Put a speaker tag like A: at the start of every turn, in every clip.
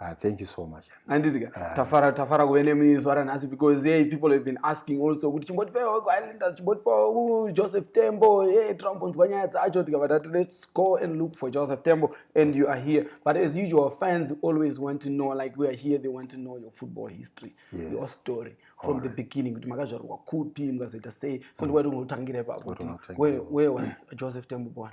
A: Ah, thank you so
B: much. Anditi ah. tafara
A: tafara kuve nemizwa ranhasi because hey, people have been asking also kuti chimbotipewa ku Islanders chimbotipewa ku Joseph Tembo hey, tinombonzwa nyaya dzacho tikabva tati let's go and look for Joseph Tembo and you are here but as usual fans always want to know like we are here they want to know your football history yes. your story from All the right. beginning kuti makazvarwa kupi mukazoita sei so mm. ndikwaiti unotangira ipapo where, where was Joseph Tembo born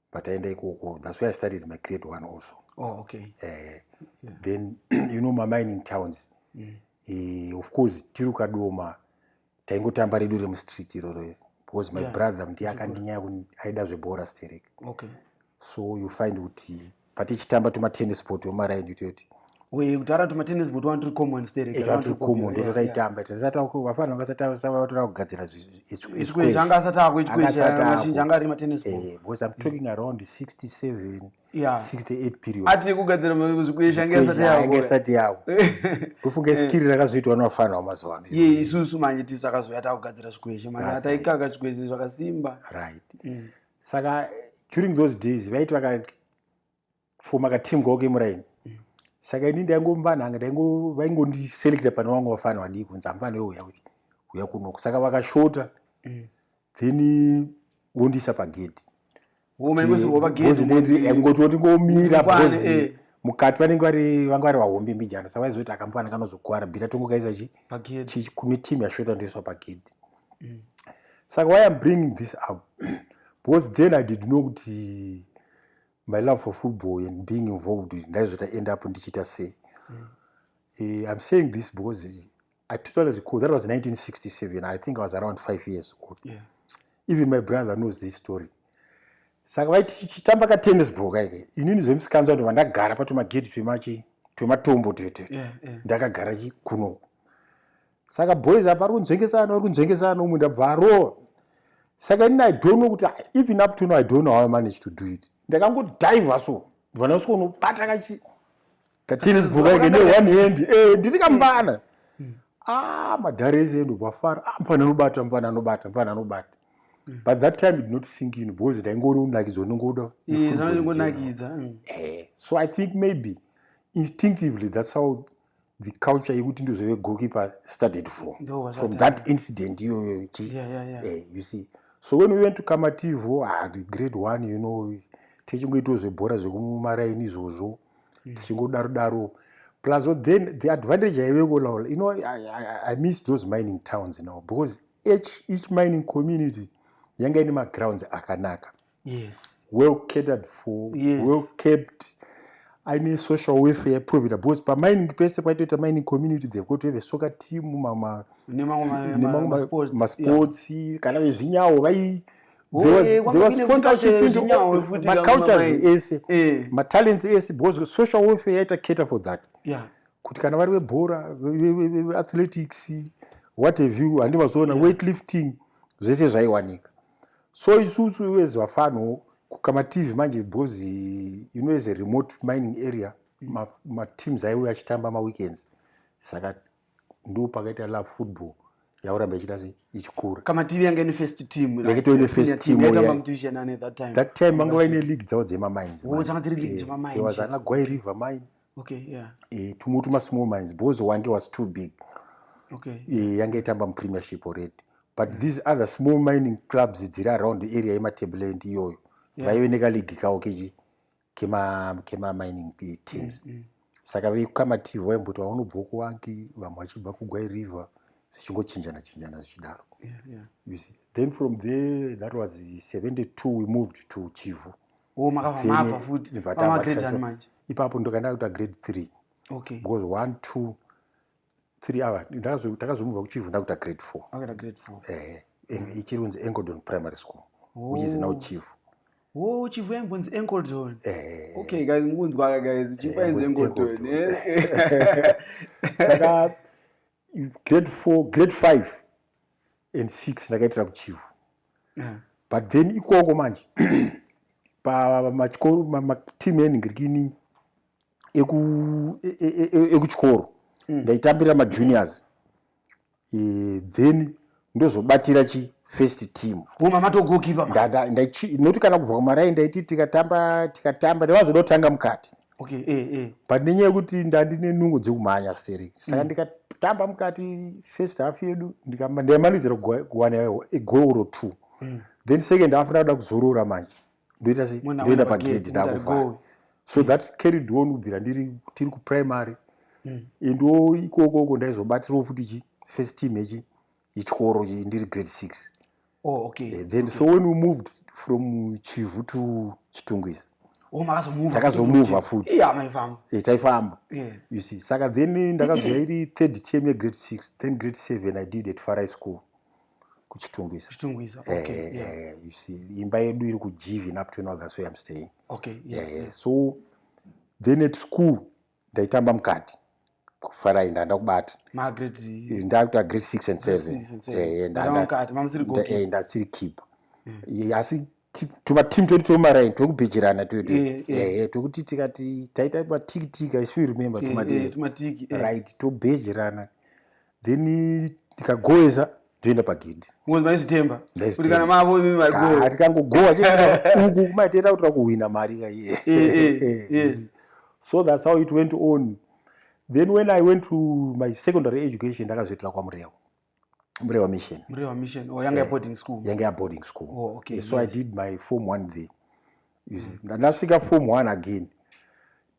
B: pataenda ikoko that's why i started my grade one also oh, okay. uh, yeah.
A: then
B: you know mamining towns mm. uh, of course tiri kadoma taingotamba redu remustreet iroro because my yeah. brother ndiye akandinyaya aida zvebhora sterek okay.
A: so you
B: find kuti patichitamba tumatennis sport wemaraini toyoti uye kutaura kuti
A: matennis boot wani tiri common sterewatiri common ndo
B: tataitamba tasatavafana vakasatavatora kugadzira zvikwezvi anga
A: asati akuikwezhiazhinji anga ari matennis boot eh, because i'm talking around
B: 67 68 period ati kugadzira
A: zvikwezhi anga asati yavo anga asati yavo ndofunga
B: skiri rakazoitwa nevafana vamazuva ano ye isusu manje tisu
A: akazoya takugadzira zvikwezhi manje ataikaka zvikwezhi zvakasimba right mm.
B: saka during those days vaiti vaka for makateam goke muraini mm. saka ini ndaingombananga vaingondiselecta pane vamwe vafana vadii kunzi amfana weuya uya kunoko saka vakashota mm. then wondisa pagedhi ngotioti ngomira bcoz eh. mukati vanenge vari vanga vari vahombe mbijana sa vaizoti akamufana kanozokuwara bhira tongo kaisa chi kune team yashota ndoiswa pagedhi mm. saka why am bringing this up because then i did know kuti my love for football and being involved ndaizota end up ndichiita sei mm. uh, i'm saying this because eh, i totally recall that was 1967 i think i was around five years old yeah. even
A: my brother
B: knows this story saka vaitichitamba ka tennis ball kaike inini zvemusikanzwa ndova ndagara patomagedhi twemachi twematombo tete yeah, yeah. ndakagara chikunoku saka boys apa ari kunzvengesana uri kunzvengesana umwe ndabva arowa saka inini i don't know kuti even up to no i don't know how i manage to do it ndakangodhaiva so ndivana usiko unobata kachi katinizibhuka ike ne one hand e nditi kamvana hmm. a ah, madhare ese ndobva fara a ah, mfana anobata mfana anobata mfana anobata hmm. but that time did not sink in because ndaingori unakidzo ndingoda eh, hmm. eh, so i think maybe instinctively that's how the culture yekuti ndozove goalkeeper started from from that incident iyoyo yeah, yeah, yeah. eh, you see so when we went to kamativo ah, the grade one you know tichingoitawo zvebhora zvekumumaraini izvozvo mm. tichingodaro daro plus then the advantage yaiveko laula you know I, I, i miss those mining towns now because each, each mining community yanga ine magrounds akanaka yes. well catered for yes. well kept aine social welfare yaprovided because pamining pese paitoita mining community they've got to have a soccer team nemamwe masports kana vezvinyawo vai macultures ese eh. matalents ese because social welfare yaita cater for that kuti kana vari vebhora veathletics what have you handi vazoona weight lifting zvese zvaiwanika so isusu iwezi vafanho kukamativi manje because you know as a remote mining area mateams aiwe achitamba maweekends saka ndo pakaita love football yauramba ichita se ichikura kamativi yanga ine first
A: team yake toine first teamthat
B: time vanga vaine league dzavo dzemamines oh, dzanga dziri league dzemamines eh, there was anagwai river mine okay, yeah. e, tumwe tuma small mines bozo wange was too big okay. e, yange itamba mupremiership already but yeah. these other small mining clubs dziri around the area yematableland iyoyo yeah. vaive nekaligi kawo kechi kemamining kema eh, teams mm, mm. saka vekukamativhi vaimboti vaunobva kuwangi vamwe vachibva kugwai river zvichingochinjana chinjana zvichidaro yeah, yeah. then from there that was 72 we moved to chivu mm. oh, makavamapa futi ipapo ndokaenda kuita grade three okay. because one two three ava takazomubva kuchivu ndakuita grade four ehe mm. ichiri kunzi engodon primary school oh. which is now chief Oh, chief
A: yaimbonzi Encoldon. Eh. Okay, guys, mukunzwa guys, chief ainzi Encoldon. Eh.
B: Saka grade four grade five and six ndakaitira kuchivo yeah. but then ikoko manje pamachikoro mateam enhingirikini ekuchikoro e, e, e, mm. ndaitambira majuniors then ndozobatira chi first team huma matogokipa noti kana kubva kumaraini ndaiti tikatamba tikatamba ndavazoda kutanga mukati okay, eh, eh. but nenyaya yekuti ndandine nungo dzekumhanya seri saka mm. ndikatamba mukati first half yedu ndaimanidzira kuwana egoro two mm. then second half ndakuda kuzorora manje ndoita sei ndoenda pagedhi ndakuvhara so that carried on kubvira ndiri tiri kuprimary mm. endo ikoko ko ndaizobatirawo futi chi first team echi ichikoro chi ndiri grade six oh, okay. Eh, then okay. so when we moved from chivhu to chitungwizi oh, takazomuvha futi eh, taifamba you see saka then ndakazouya iri third team yegrade six then grade seven i did at farai school kuchitungwiza kuchitungwiza okay eh, yeah. Eh, you see imba yedu iri kujivi up to now that's where i'm staying okay yes, eh, yes. so then at school ndaitamba mukati kufarai ndanda kubata ndakuta grade six and seven ndasiri kipa asi tumatimu twedu twemaraini twekubhejirana twedu eh, eh. ehe twekuti tikati taita matikitika isu we remember eh, tumatiki right tobhejirana then tikagoeza toenda pagedhi maizvitemba kuti kana mavo imi marigoa tikangogoa uku kumaiteta kuti rakuhwina mari kaiye so thats how it went on then when i went to my secondary education ndakazoitira kwamurewa Mrewa Mission. Mrewa Mission. Oh, yanga
A: eh, boarding school. Yanga boarding school. Oh,
B: okay. So nice. I did my form 1 there. You see. Mm. Ndasvika form 1 again.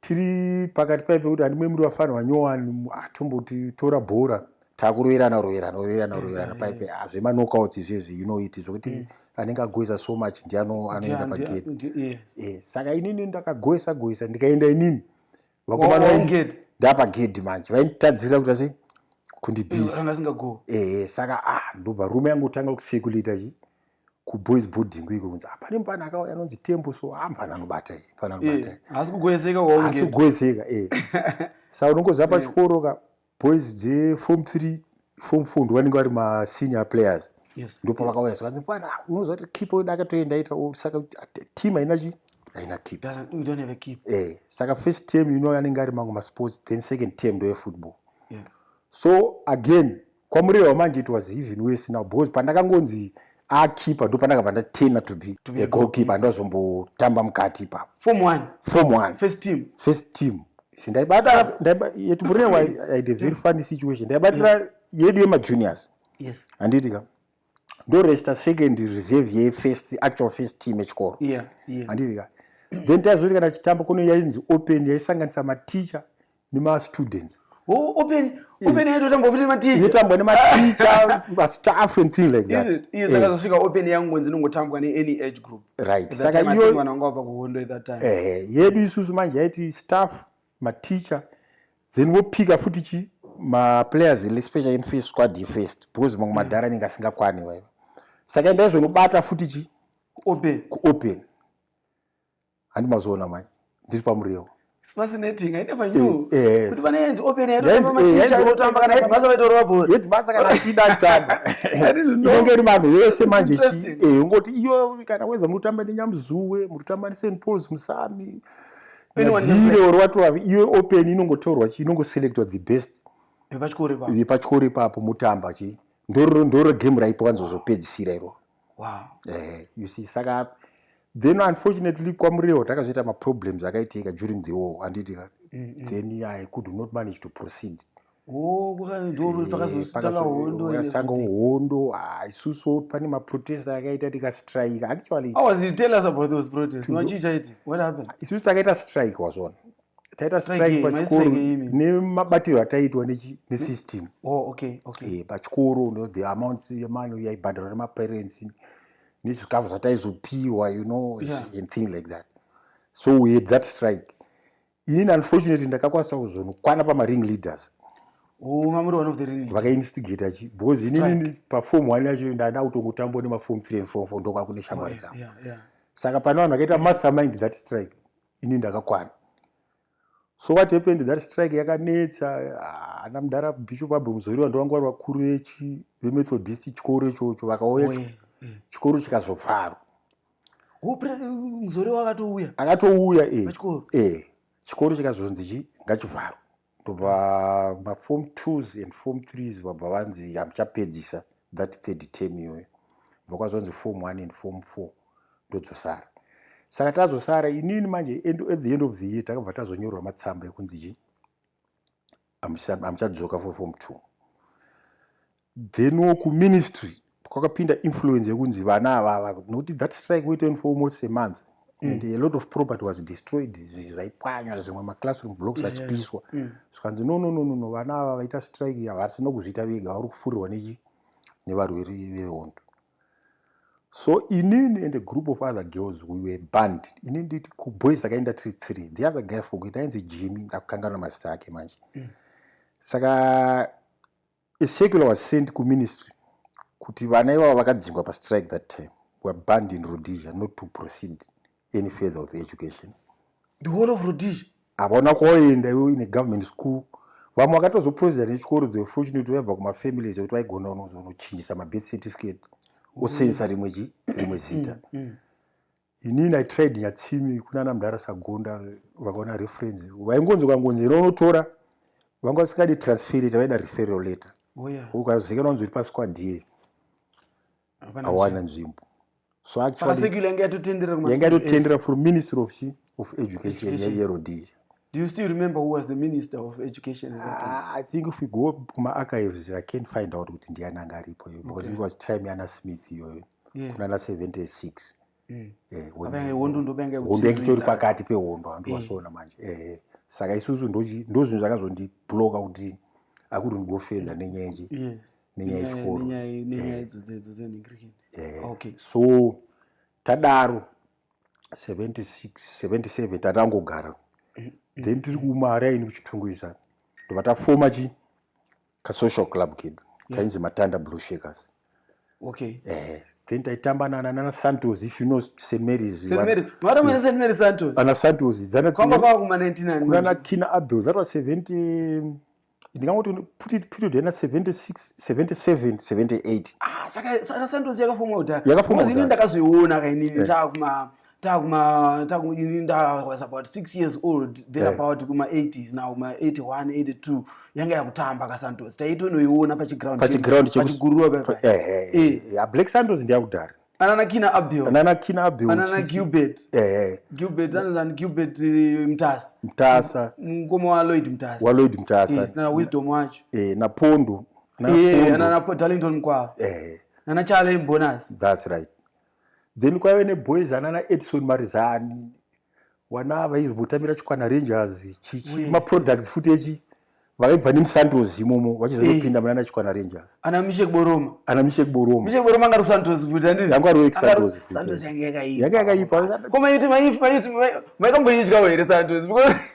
B: Tiri pakati paipe kuti andimwe muri vafana vanyowani atomboti tora bhora takuroerana roerana roerana eh, roerana eh, paipe hazvema knockouts izvezvi you know it zvokuti mm. anenge agoisa so much ndiye anoenda pagate. Saka inini ndakagoisa goisa ndikaenda inini. vakomanaingeti ndapa gedhi manje vaitadzira kuti asi kundibhiziasingago ehe eh, saka a ah, ndobva rume yangu kutanga kusekulita chi kuboys boarding kuiko kunzi hapane ah, mfana akauya anonzi tembo so a ah, mfana anobata i mfana anobata eh, asi
A: kugoezeka asi kugoezeka e
B: sa unongoziva pachikoro ka Boys dze form 3 form 4 ndovanenge vari ma senior players yes, ndipo yes. vakauya zvikanzi pana unoziva kuti keeper wedu akatoenda ita saka team haina chi haina keep we don't have a keep eh saka first term you know anenge ari mangu ma sports then second term ndo football yeah. so again kwamureva manje it was even worse now because pandakangonzi akeeper ndo pandakabva ndatena to be a goalkeeper andazombotamba mukati ipapo form one form
A: one first team first team ndaibata
B: yetibure aide very funny situation ndaibatira yedu yemajuniors yes handiti ka ndoresta second reserve yefirst actual first team echikoro handiti ka then taizoti kana chitamba kuno yainzi open yaisanganisa maticha nemastudents oh, open
A: open yacho tamba ofite maticha itambwa nematicha
B: mastaff and thing like that iye saka eh. zvosvika open
A: yangu nzi nongotambwa ne any age group right saka iyo
B: mwana wangu
A: apa kuhondo at that time eh yedu isusu manje
B: yaiti staff maticha then wopika futi chi ma players le special in first squad ye first because mangwe madhara ninga singa kwani waiva saka ndaizonobata futi chi open ku open handi mazoona mai ndiri pamuriwo fascinating
A: i never knew eh, eh, kuti vane yenzi open yedu eh, maticha anotamba kana headmaster vaitorova bhora headmaster kana achida
B: kutamba inenge iri vanhu vese manje eh ungoti iyo kana weza mutamba nenyamuzuwe mutamba neSt Paul's musami ndire or watova iyo open inongotorwa chi inongoselectwa the best vepachikoro ipapo vepachikoro ipapo mutamba chi ndoro ndoro game raipo wanzozopedzisira iroro wow. eh,
A: you see
B: saka then unfortunately kwamuriwo takazoita maproblems akaitika during the war anditi mm -hmm. then i could not manage to proceed oh,
A: pakazotanga eh, hondo
B: ah, isusu pane maprotest akaita tikastrike
A: actuallyisusu ah, takaita strike
B: wazvona taita strike pachikoro nemabatirwo ataiitwa nesystem oh,
A: eh, pachikoro
B: no the amount yemano yaibhadharwa nemaparents nezvikafu zvataizopiwa you know and thing like that so we had that strike ini unfortunately ndakakwanisa kuzonokwana pamaring leaders
A: vakainstigator chi because
B: inini pafom one yacho ndada kutongotambwa nemafom three and four four ndokakune shamwari dzangu saka pane vanhu vakaita mastermind that strike ini ndakakwana so what happened that strike yakanetsa ah, ana mudhara bishop abbe muzoriwa ndovangu vari vakuru vechi vemethodist chikoro ichocho vakauya eh. chikoro chikazovharwa
A: muzoriwa akatouya akatouya
B: e chikoro chikazonzi chi ngachivharwa ndobva maform twos and form threes vabva vanzi hamuchapedzisa that third term iyoyo bva kwazvanzi form one and form four ndodzosara saka tazosara inini manje at the end of the year takabva tazonyorwa matsamba ekunzi chii hamuchadzoka for form two then wo kuministry kwakapinda influence yekunzi vana avava nokuti that strike went on for almost a month mm. and a lot of property was destroyed zvaipwanywa zvimwe maclassroom blocks yeah, achipiswa yeah. mm. zvikanzi no no no no no vana ava vaita strike havasi nokuzviita vega vari kufurirwa nechi nevarweri vehondo so inini and a group of other girls we were banned ini nditi kuboys akaenda tiri three the other guy fokuita ainzi jimmy ndakukanganwa mazita ake manje mm. saka A circular was sent kuministry kuti vana ivavo vakadzingwa pastrike that time were banned in Rhodesia not to proceed any further with education. The whole of
A: Rhodesia? Havana kwaoenda
B: ivo in a government school. Vamwe vakatozoproceda nechikoro the fortunate vaibva kumafamilies ekuti vaigona unozonochinjisa mabirth certificate osensa rimwe chi rimwe zita. Mm, mm, mm. inini i tried nyatsimi kunana mudhara sagonda vakaona reference vaingonzi kangonzi ino unotora vanga vasingadi transferate vaida referral letter oh, ukazikanwa nzuri pasquad ye awana nzvimbo so actuallyanga yatotendera from ministry of, of education yerodii Do you still remember
A: who was the minister of education at that time? Uh, I think if we go
B: kuma archives, I can find out kuti ndiani anga aripo because okay. it was time yana Smith iyoyo. yeah. kunana 76
A: mm. eh, hondo
B: ndoitori pakati pehondo handiwasoona eh. manje eh, eh. saka isusu ndozvinhu zvakazondibloka kuti akuti ndigofenda nenyaya ichi nenyaya yechikoro eh.
A: so
B: tadaro 76 77 tatangogara then tiri kumari aini kuchitungwiza ndobva tafoma chi kasocial club kedu yeah. kainzi matanda blue shakers okay eh then taitamba nana nana santos if you know st marys st marys mara mwana st marys
A: santos ana santos
B: dzana kwamba kwa kuma
A: 99 kuna na kina abel
B: that was 70 ndingangoti put it period yana 76 77 78 ah
A: saka saka santos yakafoma uta yakafoma
B: uta
A: ndakazoiona kaini yeah. takuma takumaini ndawas about six years old there yeah. about kuma-80s now ma-81 82 yanga yakutamba kasantos taitonoiona pachigroundpachigurura
B: black santos ndiyakudhara ananakina abil
A: ananakina abil anana gilbert eh gilbert
B: anana gilbert eh,
A: mtasa mtasa
B: mkoma wa
A: lloyd mtasa wa lloyd mtasa yes, na
B: wisdom wacho
A: eh na pondo
B: na yeah, pondo na
A: darlington mkwa eh na na challenge bonus that's right
B: then kwaive neboys anana edison marizani wana vaizombotamira chikwana rangers chichi maproducts futi echi vaibva nemusantos imomo vachizonopinda eh. munana chikwana rangers ana mishe kuboroma
A: ana mishe kuboroma mishe
B: kuboroma anga rusantos
A: futi andiri yanga ruwe kusantos futi santos
B: yanga
A: yakaipa yanga yakaipa koma
B: yuti maifu
A: maifu maikamboidyawo here santos because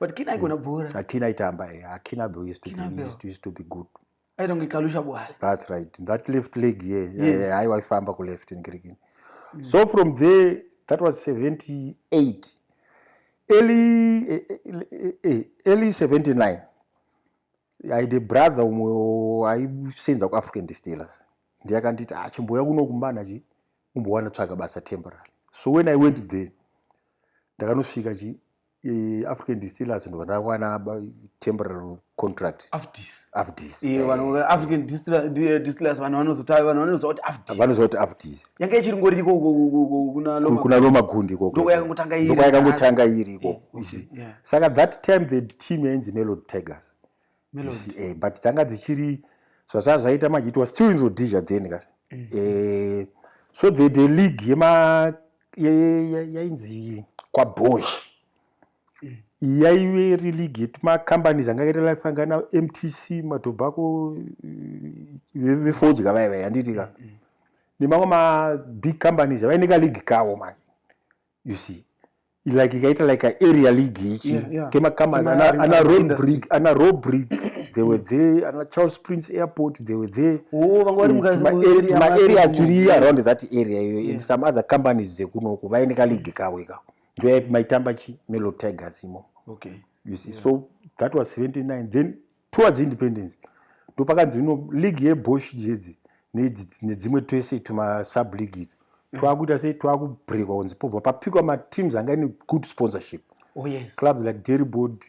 B: but kina ikona
A: mm. bhora akina itamba yeah.
B: akina bro used to be used to, used to be good i don't get kalusha
A: bwala that's right that
B: left leg yeah yes. yeah, yeah. aiwa ifamba ku left in kirikini mm. so from there that was 78 early eh, eh, eh, early 79 i the brother umwe aisenza ku african distillers ndiye akanditi ah chimboya kuno kumbana chi umbowana tsvaga basa temporary so when i went there ndakanosvika chi african distillers vanhu vakawana temporal contract afdis afdis eh, vanhu african
A: distillers vanhu vanozotaura vanhu vanozotaura kuti afdis vanozotaura kuti
B: afdis yanga ichiri ngori iko
A: kuna loma
B: kuna loma gundi iko ndoko yakangotanga iri ndoko yakangotanga iri iko saka that time the team yainzi melody tigers eh, but dzanga dzichiri zvazva zvaita manje it was still in rhodesia then ka mm. eh, so the, the league yema yainzi kwabosh mm. yaive iri league yetimacompanies anga akaita life anga na mtc matobacco eh, vefodya vaiva yanditi ka mm, nemamwe mabig companies avaineka league kavo manje you see like ikaita like area league ichi yeah, yeah. kemakamas ana robrig ana robrig they were there ana charles prince airport they were there oh, maarea eh, tiri around that area iyoyo yeah. and some other companies dzekunoku vaine kaleague kavo ikao ndoyaip maitamba chi melo tigers imo okay. you see yeah. so that was 79 then towards independence ndopakanzi no league yebosh jedzi nedzimwe twese tumasub league itu mm. twakuita sei twakubrekwa kunzi pobva papikwa mateams anga ine good sponsorship Oh, yes. clubs like derryboard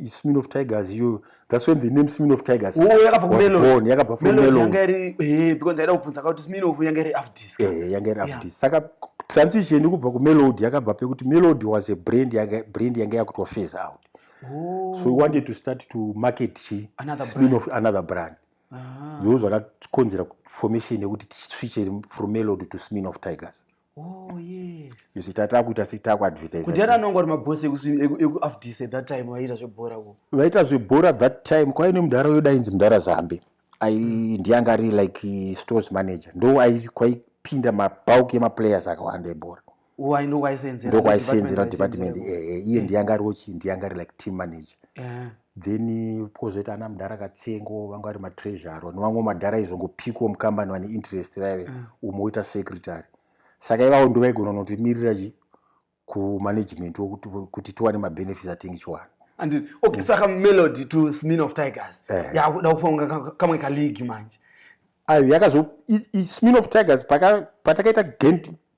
B: smin of tigers iyo thats when the name smin of tigers oh, yakabaon yakabva
A: fromelonyangairi afdis
B: saka transition kubva kumelod yakabva pekuti melod was a brand yanga yakutwa face out Oh. So we wanted to start to market chi another spin off another brand. Ah. Those were not considered formation they would switch from Melody to Smin of Tigers. Oh yes. You see tata kuita si taku advertise. Kudara nongo ri maboss
A: eku eku afdise at that time vaita zvebhora ko. Vaita zvebhora at that
B: time kwa ine mudhara yoda inzi mudhara Zambi. I ndiyanga ari like stores manager. Ndo ayi kwaipinda mabulk ema players akawanda ebhora.
A: ndokwaiseenzera department eh, eh,
B: iye eh. ndiyanga ariwo chii ndiyanga ari like team manager then pozoita ana mudhara katsengo vanga vari matreasure nevamwe madhara aizongopikwa mukambani vane interest vaive umwe oita secretary saka ivavo ndovaigona unotimirira chi kumanagement kuti tiwane mabenefits atingi chiwana and okay saka
A: melody to smin of tigers yakuda kufanira kamwe kaleague manje ayo yakazo
B: smin of tigers patakaita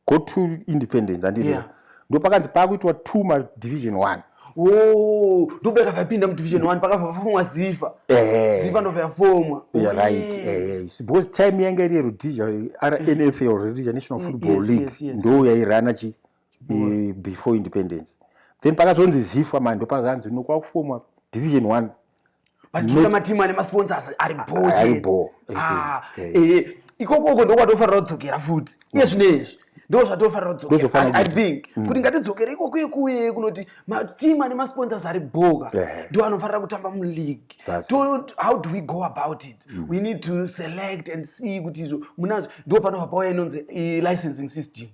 B: go to independence anditi yeah. ndopakanzi pakuitwa two ma division one oh,
A: ndokuda kavapinda mudivision one pakabva pafomwa ziva eh. ziva ndobva yafomwa right eh,
B: because time yanga iri yerudhija rnf rudhija national football league ndo yairana chi eh, before independence then pakazonzi zifa manje ndopazanzi nokwakuformwa division one Matimu
A: matimu ane masponsors ari bho chete. Ah, eh, eh, ikoko uko ndokwatofanira kudzokera futi. Iye zvine izvi ndo zvatofanira kudzokera i think mm. kuti ngatidzokere ikoko yekuye kunoti matimu ane masponsors ari bhoka ndo anofanira kutamba muleague how do we go about it mm. we need to select and see kuti izvo munazvo ndo panobva pauya inonzi licensing system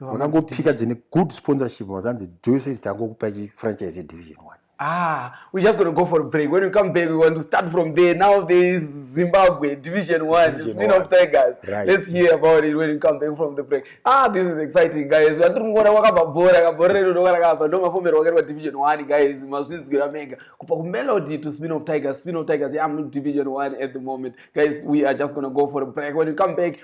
B: unangopika dzine good sponsorship mazanzi dzose dzangokupa chifranchise yedivision one Ah, we're just
A: going to go for a break. When we come back, we want to start from there. Now there is Zimbabwe Division 1, Division Spin of Tigers. Right. Let's hear about
B: it when
A: we come back from the break. Ah, this is exciting, guys. Vatiri kuona wakabva bhora, kabhora redu ndoka rakabva. Ndo mafomero wakaitwa Division 1, guys. Mazvinzwira mega. Kubva ku Melody to Spin of Tigers. Spin of Tigers, yeah, I'm in Division 1 at the moment. Guys, we are just going to go for a break. When we come back,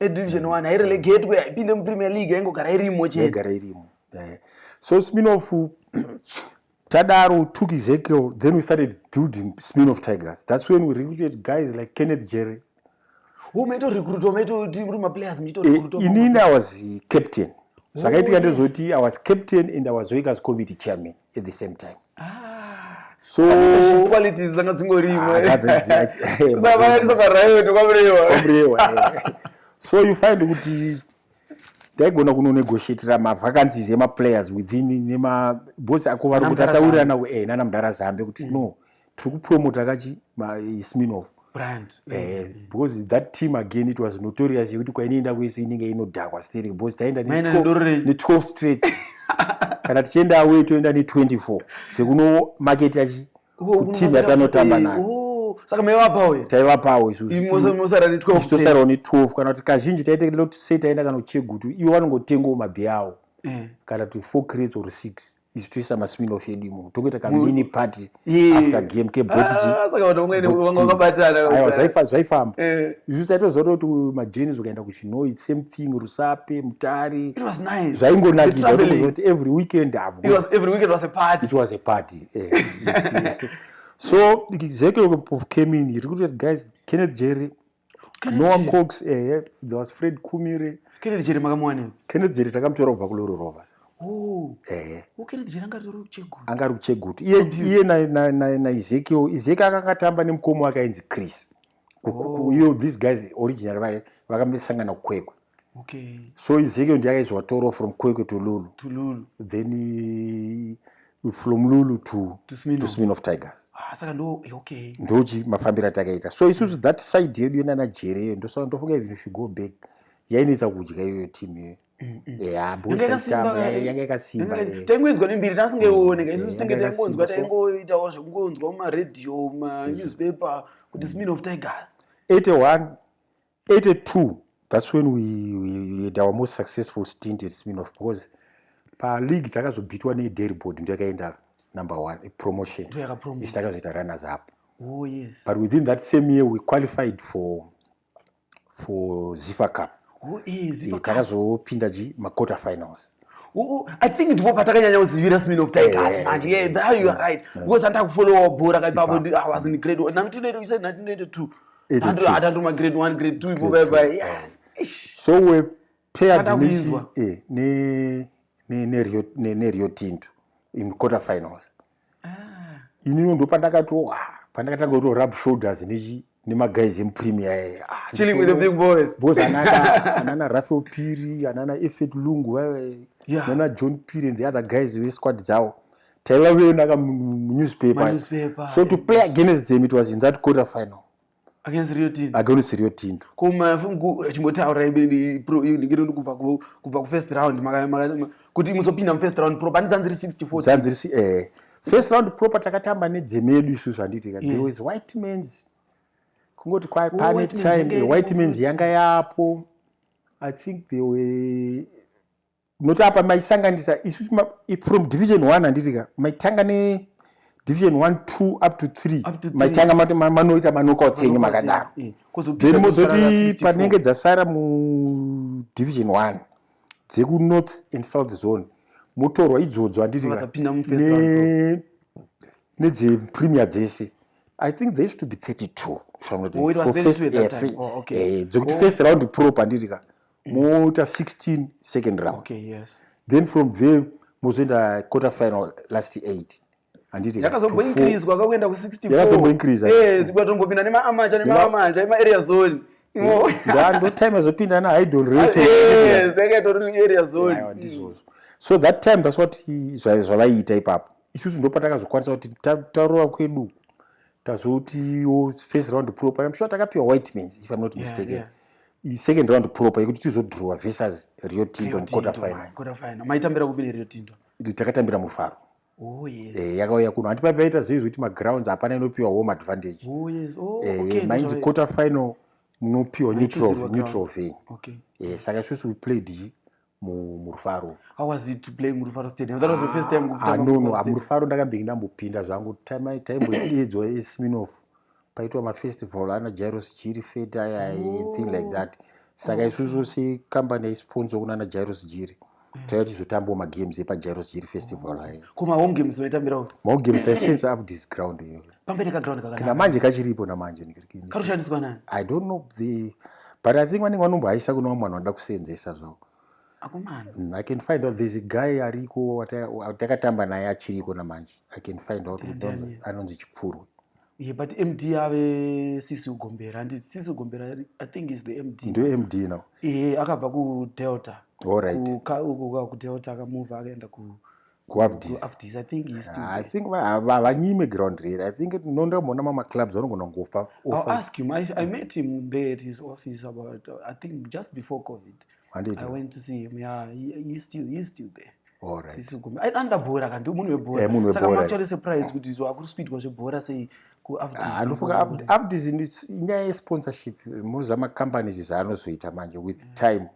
A: yet edivision one
B: hairelegatwe
A: haipinde mupremier league yaingogara irimo cheigara irimo eh.
B: so spinoff tadaro took ezekiel then we started building spinoff tigers that's when we recruited guys like kenneth jerry
A: inini i was
B: captain zvakaitika ndezoti i was captain and i was wakers committee chairman at the same time ah, so qualities dzanga dzingorima
A: dzakaisa pariot
B: kwamurewa so you find kuti taigona kunonegotiatira mavacancies emaplayers within nemabos ako vari kuti ataurirana eh, nana mudhara zambe kuti mm. no tiri kupromota kachi sminof brand eh,
A: mm. because
B: that team again it was notorious yekuti kwainoenda kwese inenge inodhakwa sterek because taenda ne12 straight kana tichienda away toenda ne24 sekuno market yachi oh, team yatanotamba nayo oh saka maivapawo here
A: taivapawo
B: isususarawo
A: ne 12 kana
B: kuti kazhinji taite loti sei taenda kana kuchegutu ivo vanongotengawo mabhi awo eh. kana kuti four crates or six isu toisa maspinoff edu imomo tokuita kamini party after game
A: kebotgzvaifamba
B: eh. isu taitozoto kuti majenis ukaenda kuchinoi same thing rusape mutari
A: zvaingonakizati
B: every weekend it
A: was a party
B: eh, so zeke of came in iri kuti guys kenneth jerry noah cox ehe there was fred kumire kenneth jere makamuwanepi
A: kenneth jere takamutora
B: kubva kuloro rova sa oh. ehe
A: oh, kenneth jere angari kuchegutu angari kuchegutu iye
B: iye naezekiel ezekiel akanga tamba nemukomo wake ainzi chris oh. iyo these guys original vaye vakambesangana kukwekwe okay.
A: so izekio ndiye
B: akaizwatorwa from kwekwe to lulu to lulu then uh, from lulu to to smin of tigers ah, saka ndo eh,
A: okay ndochi mafambiro
B: atakaita so isusu mm. that side yedu yenana jere iyo ndosaka ndofunga even if you go back yainetsa kudya iyoyo team iyoyo mm, mm. yanga yakasimba taingoinzwa nembiri
A: tasingaioneka isusu tinge taingonzwa taingoitawo zvekungonzwa mumaradio manewspaper kuti smin of tigers 81
B: 82 that's when we, we had our most successful stint at sminof because paleague takazobhitwa nederibord ndo yakaenda number one ipromotion ichi takazoita runners up oh, yes. but
A: within that same
B: year we qualified for for zifa cup oh, eh, eh,
A: takazopinda ji
B: maquarter finals i think
A: ndipo patakanyanya kuzivira smin of tigers eh, manje yeah there you are right because andakufollowa bhora kaipapo i was in grade 1982 Hata nduma grade 1 grade 2 ipo bye bye. Yes. So we
B: paired nichi eh ne ne ne Rio ne, ne Rio Tinto in quarter finals. Ah. Ini ndo pandakatowa ah, pandakatanga kuto rub shoulders nichi nemaguyz emupremier eh, ah, chilling with the big
A: boys boys anana
B: anana Rafael Piri anana Effet Lungu vaive yeah. nana John Piri and the other guys vesquad dzawo taiva kuonaka munewspaper so to play against them it was in that quarter final against rio
A: tinto against rio tinto
B: koma fungu
A: chimbotaura ibeni pro ndikiro ndikubva ku kubva ku first round maka maka kuti muzopinda mu first round pro pani zanziri 64 zanziri si eh
B: first round pro patakatamba ne dzemedu isu zvanditi ka there was white men's kungoti kwa oh, pane time white men's yanga yapo i think they were nokuti apa maisanganisa isu from division one handiti ka maitanga ne division one two up to three maitanga mati manoita manokouts enyu makadaro eh, then mozoti panenge dzasara mu division one dzekunorth and south zone motorwa idzodzo handiti ka nedzepremier dzese i think there used to be 32 oh, eh, dzekuti oh. first round prop handiti ka moita 16 second round okay, yes. then from
A: there
B: mozoenda quarter final
A: last
B: 8
A: handitiyakazomboinkrizwakakuenda
B: ku64yakazomboinkrizatongopinda eh, nemaamacha
A: nemaamacha emaarea zone
B: ndotime azopinda na hidon ratearea zone ndizvozvo
A: so
B: that time thats what zvavaiita ipapo isusu ndopatakazokwanisa kuti tarova kwedu tazotiwo first round pro pane mshuwa takapiwa white mans if im not mistaken yeah, yeah second round proper yekuti tizodhurowa versus rio tindo muquarter final maitambira kupi nerio
A: tindo takatambira mufaro
B: Oh, yes.
A: eh, yakauya kuno hati paipaita
B: zvei zvekuti magrounds hapana inopiwa home advantage oh, yes. oh, eh,
A: okay, mainzi quarter final
B: munopiwa neutral venyu okay. eh,
A: saka isusu we
B: played
A: murufaro anono amurufaro
B: ndakambenge ndambopinda zvangu taimboedzwa esminof paitwa mafestival ana jairos jiri fete aya thing like that saka isusu sekambani yaisponsa kuna ana jairos jiri mm. taiva tizotambawo magames epajairos jiri festival ayo ko mahome games maitambirawo
A: mahome games taisense
B: up this ground iyoyo pamberi kaground kakanaka
A: namanje kachiripo namanje
B: kanoshandiswa nani i don't
A: know the
B: but i think vanenge vanombohaisa kune vamwe vanhu vanoda kuseenzesa zvavo akomana mm, i can find out there's a guy ariko takatamba naye achiriko namanje i can find out anonzi chipfurwe Yeah, but MD
A: ave sisi ugombera ndi sisi ugombera I think is the MD. Ndo MD now.
B: Eh akabva ku
A: Delta. All right.
B: Ku ka ku Delta
A: akamove akaenda ku
B: kuafdisithink
A: havanyime
B: ground rere i think nonda mona mamaclubs vanogona
A: kungofa anoda
B: bhora
A: kanti munhu webhoraactuallysurprise kuti izvo akuri kuitwa zvebhora sei kuafdis
B: inyaya yesponsorship muzvamacompanies zvaanozoita manje with time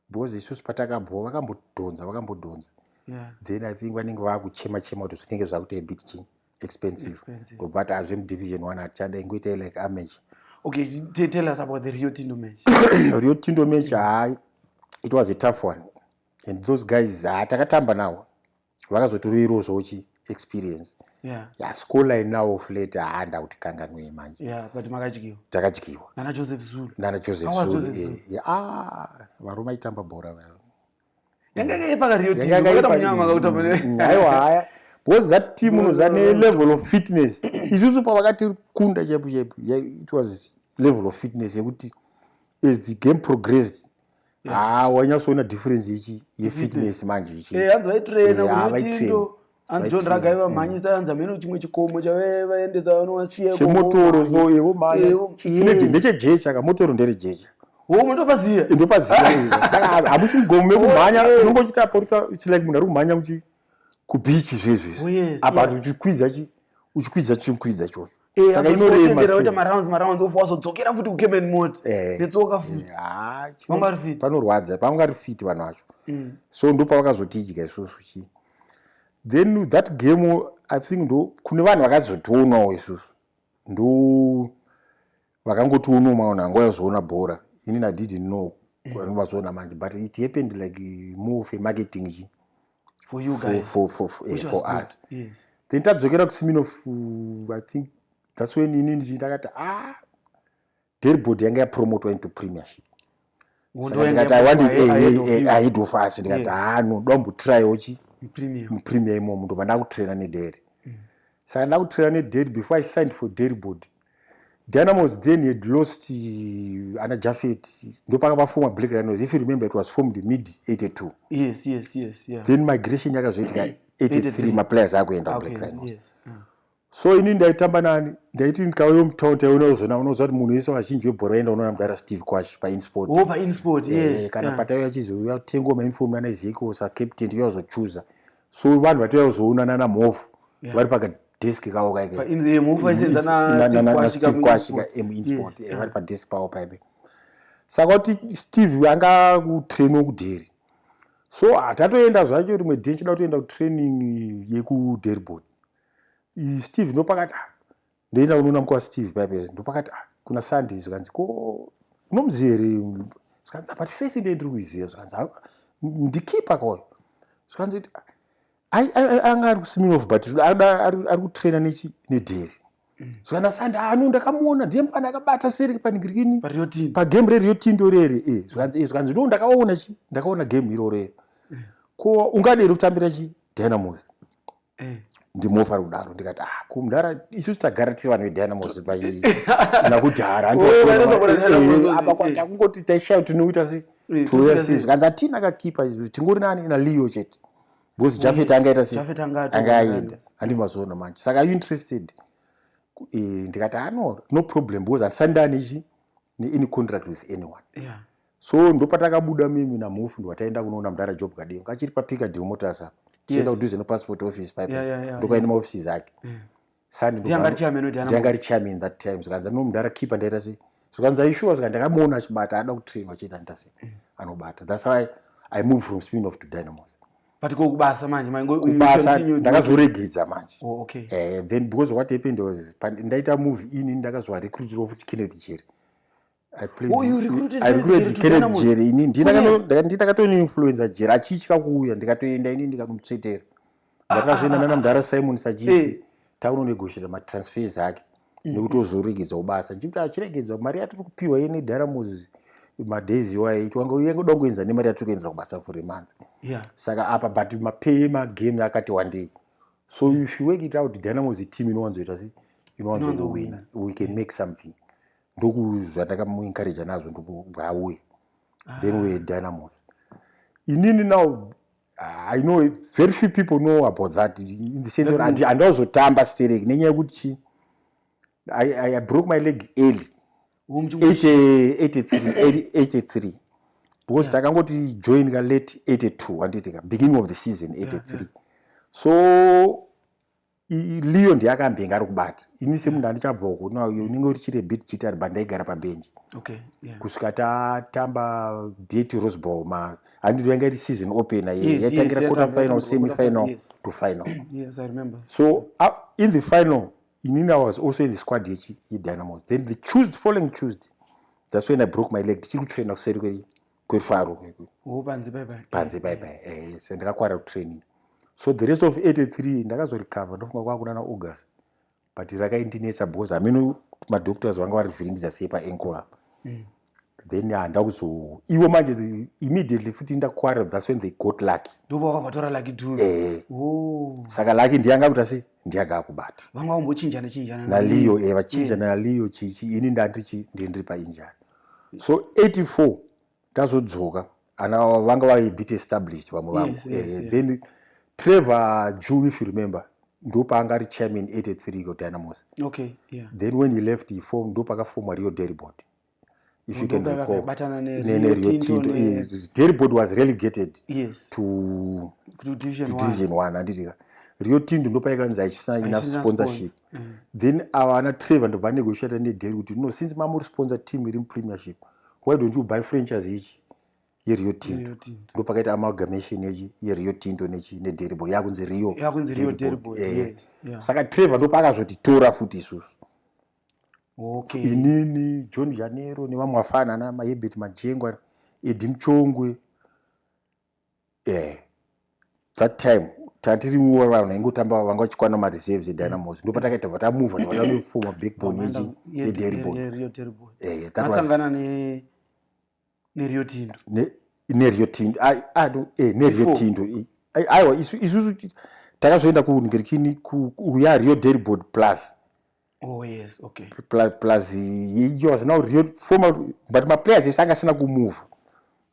B: because isusu patakabvoo vakambodhonza vakambodhonza then i think vanenge vakuchema chema kuti zvinenge zvakuita abit chi expensive ndobva ati azve mudivision one atichada ingoita like amage okay tell
A: us about the rio tindo match rio tindo
B: match hai it was a tough one and those guys ha takatamba nawo vakazoturuirwo zvochi experience yeah. yeah, school line now of late haanda kuti kanganwei manje yeah, but makadyiwa
A: takadyiwa nana
B: joseph zulu
A: nana joseph Awa zulu, zulu. Eh, yeah.
B: ah, varume aitamba bhora vaya
A: yangaipaaiwa haya
B: because that team uno zane level of fitness isusu pavakati kunda chaipo chaipo it was level of fitness yekuti as the game progressed haa wanyatsoona difference ichi yefitness manje ichi eh, hanzi vaitraina eh,
A: kuitindo hanzi john raga ivamhanyisa hanzi amene chimwe chikomo chavaendesa vanowasiyachemotoro so ivo
B: mayandechejecha ka motoro nderejecha ndopaziya
A: ndopaziya saka
B: hamusi mugomo mekumhanya unonge uchita porita it's like munhu ari kumhanya kuchi kubichi zvezvezvi apa uchikwidza chi uchikwidza chikwidza chocho Eh, saka inorematira
A: marounds marounds of wazodzokera futi kucamen mot eh, netsoka eh, futi ah, pangari fit panorwadza pangari fit
B: vanhu vacho mm. so ndo pavakazotidya isusu chi then that game i think ndo kune vanhu vakazotionawo isusu ndo vakangotionawo maona angu ayozoona bhora inini adidn't know mm. vanovazoona manje but it happened like more of a marketing chi for you guys
A: for for for, eh, for
B: us yes. then
A: tadzokera
B: kusimino uh, i think that's when ini ndichitakati ah deribod yanga yapromotwa into premiership ndikati i want ahead of us ndikati ha noda umbotraiwo chi mupremier imomo ndobva ndakutraina nederi mm. saka ndakutraina nederi before i signed for deribod Dynamos then had lost uh, ana Jafet ndopaka pafoma Black Rhinos if you remember it was formed in mid 82 yes yes yes yeah.
A: then
B: migration yakazoitika 83 maplayers akuenda okay, Black Rhinos yes. yeah. so ini ndaitamba nani ndaiti ndikauyo mutown taiona uzona unoziva kuti munhu wese vazhinji vebhora vaenda unoona mudara steve kwash painsport oh, pa insport, eh, yes,
A: kana yeah. pataiuya chizouya
B: tengwa mainfomu ana zeko sa captain yauzochuza so vanhu vatouya kuzoona nana mhofu yeah. vari paka desk kavo
A: kaikakwashika
B: emuinsport eh, vari padesk pavo paipe saka kuti steve anga kutrainwa kudheri so hatatoenda zvacho rimwe dhi chida kutoenda kutraining yekuderboard steve ndopakati ah, ndoenda kunoona mukwa steve paipe ndopakati ah, kuna sunday zvikanzi ko unomuziva here zvikanzi ah, but face ndiye ndiri kuiziva zvikanzi ah, ndikipa kwayo zvikanzi anga ari kusiminof but ari kutraina nedheri mm. zvana sande ano ndakamuona ndiye mufana akabata seri panigirikini pagame rerio tindo rere eh, zvikanzi eh, zvikanzi ndo ndakaona chi ndakaona game iroro ero mm. ko ungaderi kutambira chi dynamos Eh. ndimofa kudaro ndikati ah kumdara isu tagara tiri vanhu vedynamos pai nakudhara apa kwati akungoti taishaya tinoita se eh, touya sei zvikanzi atina akakipa izvi tingori nani naleo chete because eh, jafet angaita se anga aenda handi mazoona manje saka you interested eh, ndikati ano ah, no problem because handisandani ichi neany contract with anyone so ndopatakabuda mimi namhofu ndwataenda kunoona mudhara job kadingo kachiri papika deal motors apa tichienda kudhuze nepassport office paipa ndokaenda maofisi zake sandanga richairman that time zvikanzi amino mudhara keeper ndaita sei zvikanzi aishuwa zvika ndakamuona achibata ada kutrainwa chiita ndaita sei mm. anobata thats why i move from spin off to dynamos but ko kubasa
A: manje kubasa
B: ndakazoregedza manje oh, okay. eh, then because what happened was ndaita move ini ndakazovarecruitira futi kenneth jeri jeri ini ndinakatoinfluenza jeri achitya kuuya ndikatoenda ini ndikamutsvetera ndakatozoenda nana mudhara simon sachiti taunonegoshera matransfers ake nekuti ozoregedza ubasa ndichikuti achiregedza mari yatiri kupiwa ye nedhara moses madays iwayo iti wanga uye kuda kuenza nemari yatiri kuendera kubasa for a month saka apa but mapay magame akati wandei so if you work it out dynamos team inowanzoita sei inowanzowina we can make something ndokuzvatakamuencouraja nazvo ndokubwauye ah. then were dynamos inini now i know very few people know about that in the sense and andazotamba sterek nenyaya yekuti chi I, I, i broke my leg early 83 because takangoti yeah. join ka late 82 handiti ka beginning of the season 83 yeah, yeah. so liyo ndiye akambenga ari kubata ini semunhu andichabvawo kuna uyo unenge urichite bit chitar bandaigara pabhenji kusvika tatamba bet roseball ma handiti yanga iri season open ye yaitangira quarter final semi final to final so in the final inini was also in the squad yechi yedynamos then the tuesday following tuesday that's when i broke my leg ndichiri kutraina kuseri kwe kwefaro kwekwe oh, panze paipai panze paipai eh, so ndakakwara kutraining so the rest of 83 ndakazorecover ndofunga kwakuna na august but rakaindinetsa because hameno madoctors vanga vari vhiringidza sei paankle apa mm. then handa kuzo ivo manje immediately futi ndakwara thats when they got lucky ndovakavatora lucky
A: tu eh. oh.
B: saka lucky ndiyanga kuta sei ndiyanga akubata vanga vambochinjana
A: chinjana naliyo e eh,
B: vachinjana mm. naliyo chichi ini ndandichi ndindiri painjani so 84 tazodzoka ana vanga vave bit established vamwe vangu yes, yes, eh, yes. then trevor jew if you remember ndopaanga ari chairman 83 ko dynamos okay, yeah. then when he left he form ndopakafomwa rio deribod if you can recall nerio tinto eh, deribod was relegated yes. to, to division, to division one, one. anditika rio tinto ndopaikanzi achisaina sponsorship mm. then ava ana trevor ndobva negotiata nedel kuti no since mamuri sponsor team iri mupremiership why don't you buy franchise ichi yerio tinto ndo pakaita amalgamation yechi yerio tinto nechi nederibol yakunzi rio eh. saka trevor ndo paakazotitora futi isusu okay. inini john janero nevamwe vafanana mahebert majengwa edi muchongwe eh that time tatiri nguva vanhu vaingotamba vanga vachikwana mareserves edynamos ndo patakaita bva tamuva vatanoforma backbone yechi yederibonasangana
A: eh, nerio tindo nerio
B: tindo eh, nerio tindo aiwa isusu takazoenda kungerikini kuya rio deribord plus Oh, yes, okay. Plus, plus iyo asina real formal but maplayers ese anga asina kumove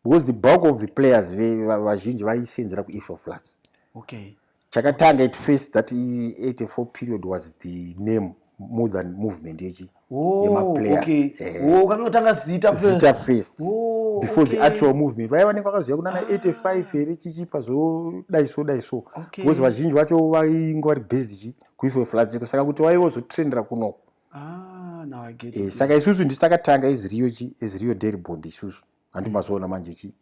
B: because the bulk of the players vazhinji vaisenzera kuefo flats okay. chakatanga at first that 84 period was the name more than movement yechi oh, yemaplayersukanotanga
A: eh. zita zita first
B: oh, before okay. the actual movement vaya vanenge vakaziva kunana ah. 85 here chichipa zodai so dai so because vazhinji vacho vainge vari based chi kuife fladziko saka kuti waive wozotrendera kunoku ah, eh, saka isusu ndisi takatanga eziriyo chi eziriyo dairy bond isusu hanti mazoona manje chi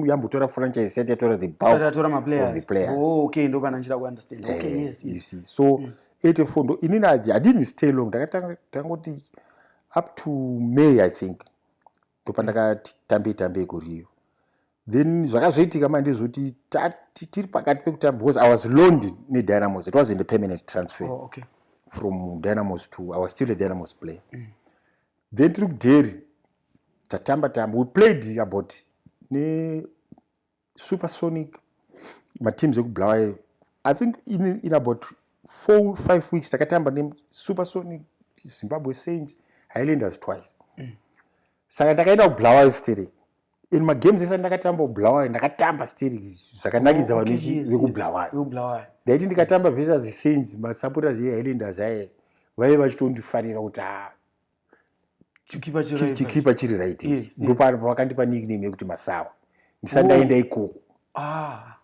B: yambotora franchise isati yatora the bulkatora maplayer the players oh, okay ndo kana nchira kuunderstand
A: eh, okay yes you see
B: so mm. ete fondo inini i didn't stay long ndakatanga tangoti up to may i think ndopandakati tambei tambei kuriyo then zvakazoitika manje zvokuti tiri pakati pekutamba because i was loned nedynamos it wasn't a permanent transfer oh, okay. from dynamos to i was still a dynamos player mm. then tiri kudheri tatamba tamba we played about ne supersonic mateams ekubulawayo i think in, in about four five weeks takatamba nesupersonic zimbabwe saints highlanders twice mm. saka ndakaenda kubulawayo steri in magames ese ndakatamba kubulawayo ndakatamba steri zvakanakidza oh, vanhu vekubulawayo ndaiti ndikatamba versus saints masupporters ehighlanders aye vaive vachitondifarira kuti ha ah, chikipa chiri right ndopavakandipa nickname yekuti masawa ndisati ndaenda oh. ikoko ah,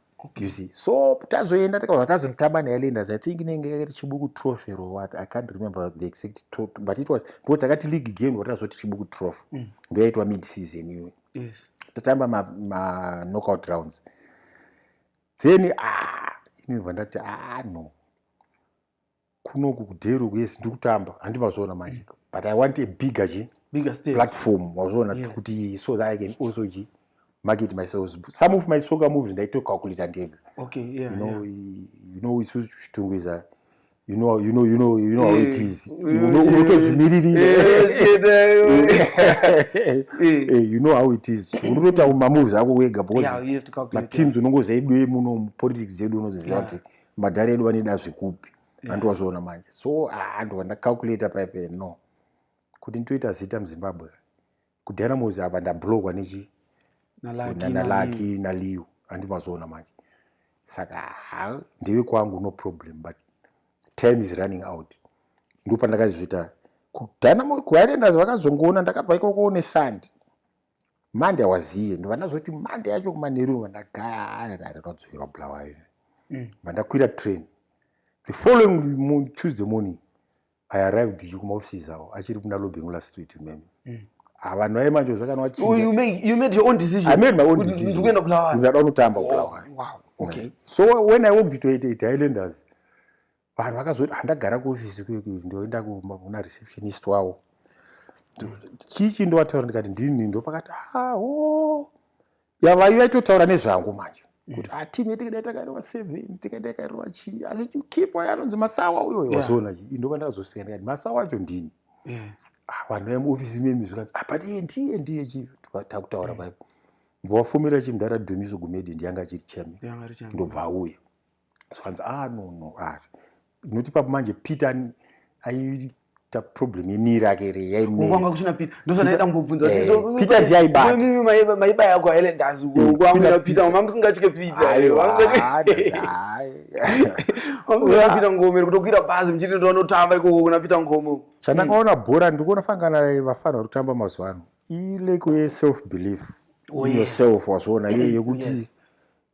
B: you see so tazoenda takabva tazotamba nealenders i think inenge yakaita chibuku trophy or what i can't remember the exact trophy but it was because takati league game watazoti chibuku trophy mm. ndoyaitwa mid season iyoyo tatamba maknockout rounds then ah, inobva ndati ah no kunoku kudheri uku yes ndiri kutamba handi mazviona manje mm. but i want a bigger chi bigger stage platform
A: wazviona
B: yeah. kuti so that i can also chi market myself some of my soccer moves ndaito calculate ndega okay yeah
A: you know
B: yeah. you know isu chitungu is a you know you know you know you know how it eh, is unotozvimiririra eh, eh, you know how it is unotoita mamoves ako wega because mateams
A: unongozaidwe
B: muno politics yedu unoziziva kuti yeah. madhara edu vane dazvi kupi yeah. andiwazviona manje so handiwa ah, ndacalculator paipe no kuti nditoita zita muzimbabwe kudhara mozi apa ndablogwa nechi nalaki naliu handimazoona manje saka ah, ndeve kwangu no problem but time is running out ndopandakazvita kudhana kuhirenders vakazongoona ndakabva ikoko nesandi mande awaziye ndobva ndazoti mande yacho kumanheru va ndagaaarinodzokera bulawayo mm. bva ndakwira train the following tuesday morning i arrived ichi kumaoffices avo achiri kuna lobengula street mem mm. avanhu ah, vaye manje zvakana
A: vachinjaunotamba bulawayo so when i walked
B: to 88 highlanders vanhu vakazoti handagara kuofisi kuyoku ndoenda kumba kuna receptionist wavo chii chii ndovataura ndikati ndini ndopakati aho ah, yavai vaitotaura nezvangu manje kuti mm. atimu ah, yatikaida takarova seven tikaita yakarova chii asi kipo yanonzi masawa uyo wazoona chii ndova ndakazosika ndikati masawa acho ndini ah, vanhu vamuofisi memi zvikanzi but iye ndiye ndiye chii takutaura paipo mvowafumira chimudhara dumiso gumedi ndiyanga achiri cheme ndobva auya zvikanzi ah no no ah noti papo manje peter ai ta problem yemiri ake re yainanga kuchina peter
A: ndozvanaida kungobvunza kuti so eh, peter ndiye aibata
B: mimi maiba maiba
A: yako haile ndazi uko mm, kwa mira peter mama musingatye peter ayo wanga peter ngomero kutokwira bhazi muchiti ndo anotamba iko kuna peter ngomo chandakaona mm. bhora
B: ndikuona fangana vafana vari kutamba mazuva ano ileko ye self belief oh, yourself wazviona iye yekuti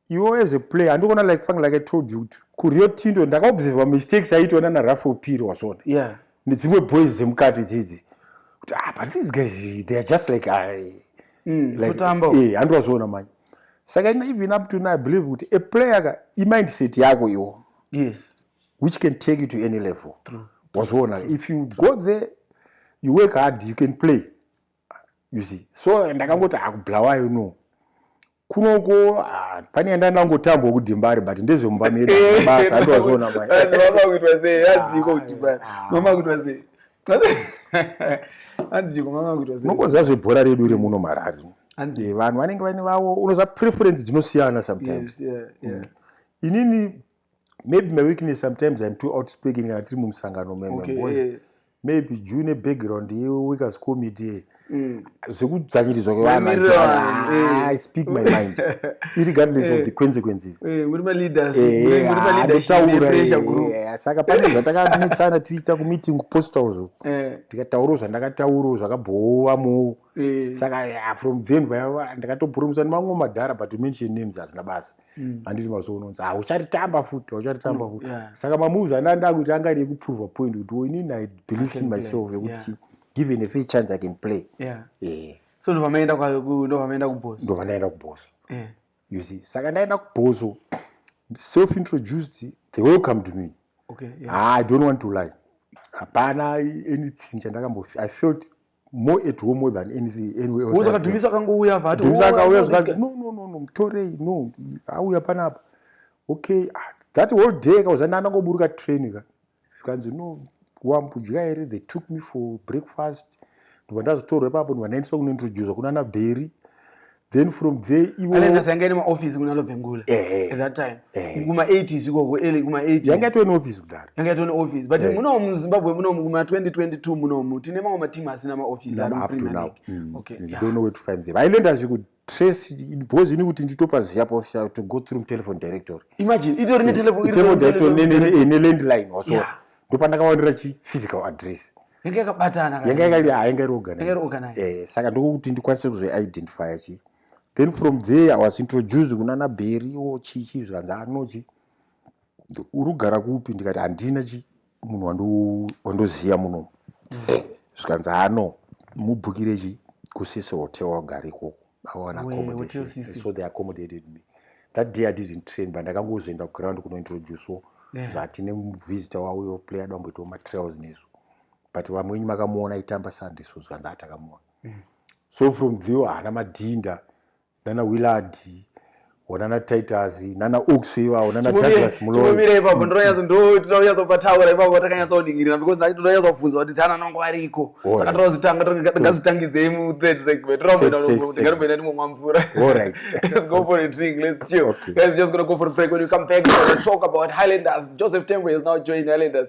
B: iwo as a player handikuona like fang like i told you kuti kurio tindo ndakaobserva mistakes aitwa nana rafael piri wazvona yeah. nedzimwe boys dzemukati dzidzi kuti ah, but these guys they are just like i mm, like, kutambo e eh, handiwazviona manje saka ina even up to now i believe kuti a player ka imindset yako iwo yes which can take you to any level wazviona if you go there you work hard you can play you see so ndakangoti hakublawayo ah, no kunoko ah, pane yanda ndangotambwa kudimbari but ndezvemumba medu eh, basa andovazoona mai mama kuitwa sei
A: hadziko kudimbari mama kuitwa sei hadziko mama kuitwa sei unokoziva zvebhora redu iri
B: muno marari hanzi vanhu vanenge vaine vavo unoziva preference dzinosiyana sometimes yes, yeah, yeah. Mm. inini maybe my weakness sometimes im too outspeaking kana tiri mumusangano meme okay, because yeah. maybe juu nebackground yeweakers committee mm. zvekudzvanyirizwa kwevanhu ah, i speak my mind irregardless of the eh. consequences eh,
A: eh, ah, saka pane
B: zvatakanetsana tichiita kumeeting kupostawo zvo ndikataurawo zvandakataurawo zvakabhowa moo saka ah, from then ndakatopurumiswa nemamwe madhara but mention names hazvina basa mm. handiti mazuva unonzi ha ah, uchatitamba futi hauchatitamba mm, futi saka mamoves anda ndakuti anga iri kuprova point kuti oh, inini i believe in myself yekuti given a fair chance i can play eh. so
A: ndo vamaenda kuboso ndo vanaenda kuboso
B: eh. you see saka ndaenda kuboso self introduced they welcomed me ah, i don't want to lie hapana anything chandakambof i felt more at home more than anything anyway else saka dumisa akangouya vati
A: dumisa oh, akauya zvakanzi no
B: no no no mutorei no auya panapa okay ah, that whole day kauza ndana ngoburuka train ka zvikanzi no wambudya here they took me for breakfast ndobva ndazotorwa ipapo ndobva ndaendeswa kunointroducwa kunana bheri then from there iwo ale nasanga ine maoffice
A: kuna lo bengula eh, at that time eh, kuma 80s ikoko ele kuma 80s yanga to ne office kudara
B: yanga to ne office but eh,
A: muno mu Zimbabwe muno mu 2022 muno mu tine mamwe mateam asina ma office no, up to now mm, okay
B: you yeah. don't know
A: where to find
B: them i learned as you could trace because ini kuti nditopa ziya pa office to go through telephone directory imagine itori ne
A: telephone telephone directory ne ne
B: landline also yeah. ndopandakawanira chi physical address yanga yakabatana
A: yanga yanga yanga iri
B: organized eh saka ndokuti ndikwanise kuzo identify chi then from there i was introduced kuna na berry o chi chi zvanza anochi urugara kupi ndikati andina chi munhu wando wandoziya muno zvikanza ano mubhukire chi kusise hotel wagari koko vawana accommodation so they accommodated me that day i didn't train but ndakangozoenda kuground kunointroducewo yeah. zvatine visitor wauyo player domboitawo matrails nesu but vamwe wenyu makamuona aitamba sunday so zvanzi atakamuona mm. so from view haana madhinda nana willard onana titus nana ox ivavo nana douglas muloimira ipapo ndinonyatso
A: ndotinoyatso pataura ipapo takanyatsooningirira because ndati ndinonyatso bvunza kuti tana nangu ariko saka ndinozotanga ndingazotangidzei mu third segment ndingatomboenda ndimomwa mvura alright let's
B: go for a drink
A: let's chill okay. guys just gonna go for a break when you come back we're gonna talk about highlanders joseph tembo is now joining highlanders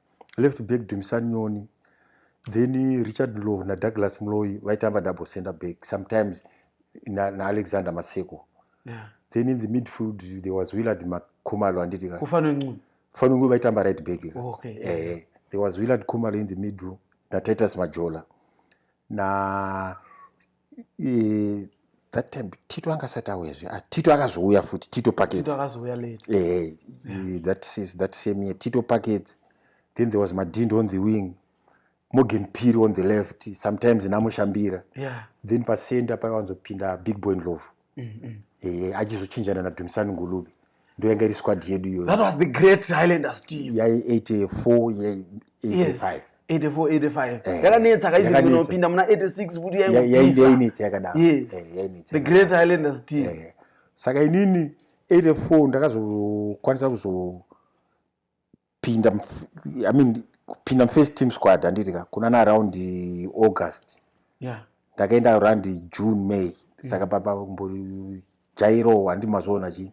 B: left back Dumisani Nyoni then Richard Love na Douglas Mloyi vaitamba double center back sometimes na, na Alexander Maseko yeah. then in the midfield there was Willard Makumalo anditi ka kufano ncu
A: fano ncu vaitamba right
B: back oh, okay eh yeah.
A: there was Willard
B: Kumalo in the middle na Titus Majola na Eh, that time tito anga asati auya zve ah, tito akazouya futi tito packet
A: eh, that, is,
B: that same year tito packet then there was madindo on the wing morgan piri on the left sometimes namushambira yeah. then pasenda pakawanzopinda big boy ndlovu ehe achizochinjana nadumisani ngulube ndoyanga iri squad yedu iyoyo that was the great highlanders
A: team yai 84 yai 85 8485 yakanetsa kaizipinda muna 86 kuti yainetsa yakadaro
B: the great
A: highlanders team saka inini
B: 84 ndakazokwanisa kuzo kupinda I mean, kupinda mufirst team squad handiti ka kunana around august yeah. ndakaenda around june may saka papa kumbojairo handi mazoona chii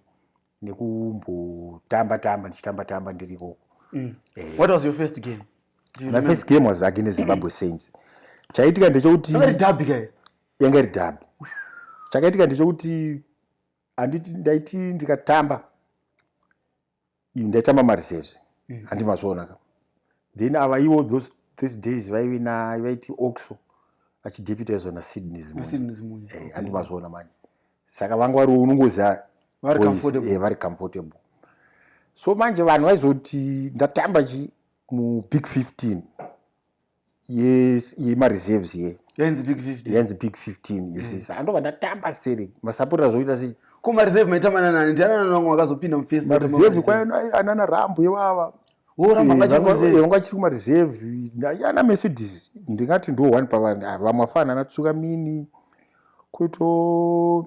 B: nekumbotamba tamba ndichitamba tamba ndiri ikoko mm. eh. what
A: was your first game my first game
B: was against zimbabwe saints chaitika ndechekuti
A: yanga iri dhabi
B: chakaitika ndechekuti handiti ndaiti ndikatamba ndaita mamarisezve mm. handi mazvionaka then ava iwo those, those days vaive na vaiti oxo achideputizwa nasydney zimunyi eh, handi mazviona manje saka vanga vari unongoziva vari comfortable, eh, vari comfortable. so manje vanhu vaizoti ndatamba chi mubig 15 yemareserves ye yainzi big 15 yainzi
A: big 15
B: you see saka ndobva ndatamba seri masapota zvoita sei ko mareserve maitamba
A: nanani ndiani anani vamwe vakazopinda mufesi mareserve kwaina
B: anana rambo ivava vanga chiri kumareserve ana mercedes ndingati ndo one pavamwe afana anatsuka mini kuito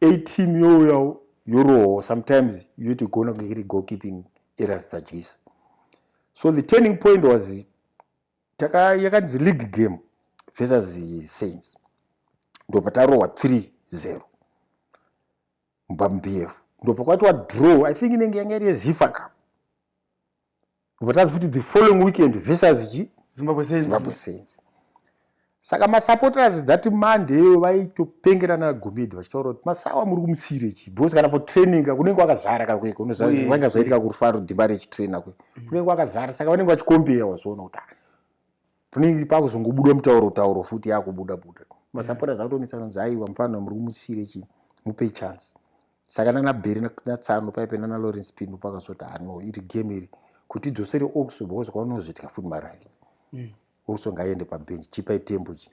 B: ateam youyawo yorohwa sometimes yotigona kunge iri goal keeping eras dzadyisa so the turning point was yakanzi league game versus saints ndopatarohwa 3 0 mbambf ndopakwatiwa draw i think inenge yanga iri yezifa cup Votadzi futi the following weekend versus chi Zimbabwe Saints. Zimbabwe Saints. Saka masupporters that Monday iwo vaitopengerana gomedi vachitaura kuti masawa muri kumusire chi because kana po training kunenge kwakazara ka kweko unoziva mm. vanga zvaitika kurufaro dhimba rechitrainer kwe mm. kunenge kwakazara saka vanenge vachikombeya wazoona kuti ah, Pningi pakuzongobuda mutauro tauro futi yakubuda buda. Masapota zvakutonetsa kunzi aiwa mfana muri kumusiire chii mupe chance. Saka nana Bheri na Tsano paipe nana Lawrence Pimbo pakazoti hano ah, iri game iri kuti idzosere Oxo because kwaunozvitya futi marights. Mm. Oxo ngaiende pabench chipai tembo chi.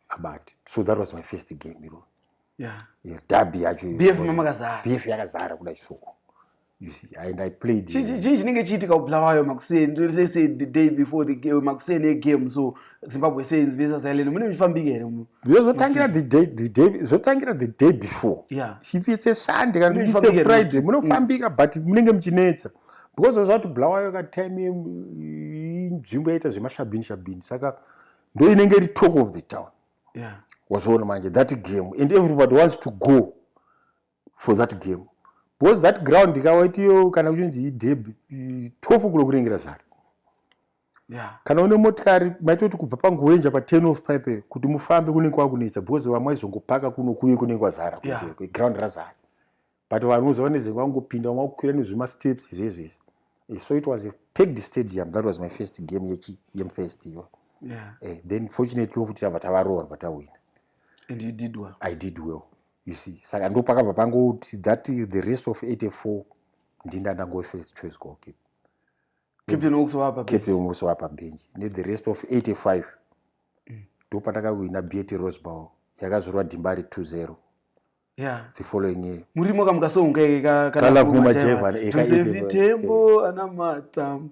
B: kabati so that was my first game iro yeah. yeah, dabi yacho bf makazara bf yakazara kuda chisuku you see and i played chii chinenge chiitika
A: kubulawayo makuseni they said the day before the game makuseni egame so zimbabwe sains versus ireland mune muchifambika here mu zvotangira the
B: day the day zvotangira the day before yeah if it's a sunday kana it's a friday munofambika mm. but munenge muchinetsa because zvati bulawayo ka time inzvimbo yaita zvemashabini shabini saka ndo inenge iri talk of the town yeah. wazoona manje that game and everybody wants to go for that game because that ground ikawaitiyo kana kuchinzi ideb 12 kulo kurengera zvare yeah. kana une motikari maitoti kubva panguwenja pa 10 of pipe kuti mufambe kunenge kwakunetsa because vamwe vaizongopaka kuno kuye kunenge kwazara yeah. ground razara but vanhu vanoziva nezenge vangopinda vanga kukwira nezvema steps izvezvo izvi eh, so it was a packed stadium that was my first game yechi yemfirst iyo yeah. uh, then fortunately ofuti tava tavarowa ndva tawina and you did
A: well i did well
B: you see saka ndo pakabva pangoti that is the rest of 84 ndinda ndangove first choice goalkeeper
A: captain
B: also wapa benji nethe rest of 85 mm. ndo mm. patakawina bet rosebow yakazorwa dhimba ri 20 yeah. the following year murimo kamukasounga ike
A: kalavu
B: majeva ekaitevitembo
A: ana matambo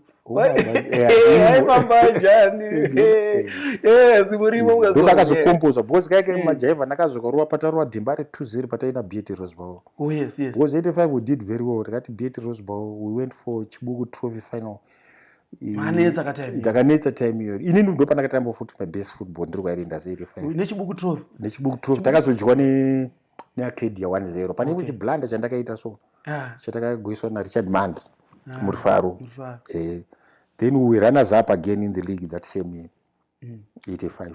A: ndokakazokompoza
B: because kaike mm. majaiva ndakazokarova patarova dhimba re two zero pataina beat rosebow oh, because eighty five we did very well tikati beat rosebow we went for chibuku trophy final manetsa katime ndakanetsa time iyo ini ndikudo pandakatamba futi my best football ndiri kwairi ndazeri nechibuku trophy nechibuku trophy takazodyiwa ne neacadia one zero pane okay. chiblanda chandakaita so yeah. chatakagoiswa narichard manda yeah. murifaro yeah. eh, then we runners up again in the league that same year mm. 85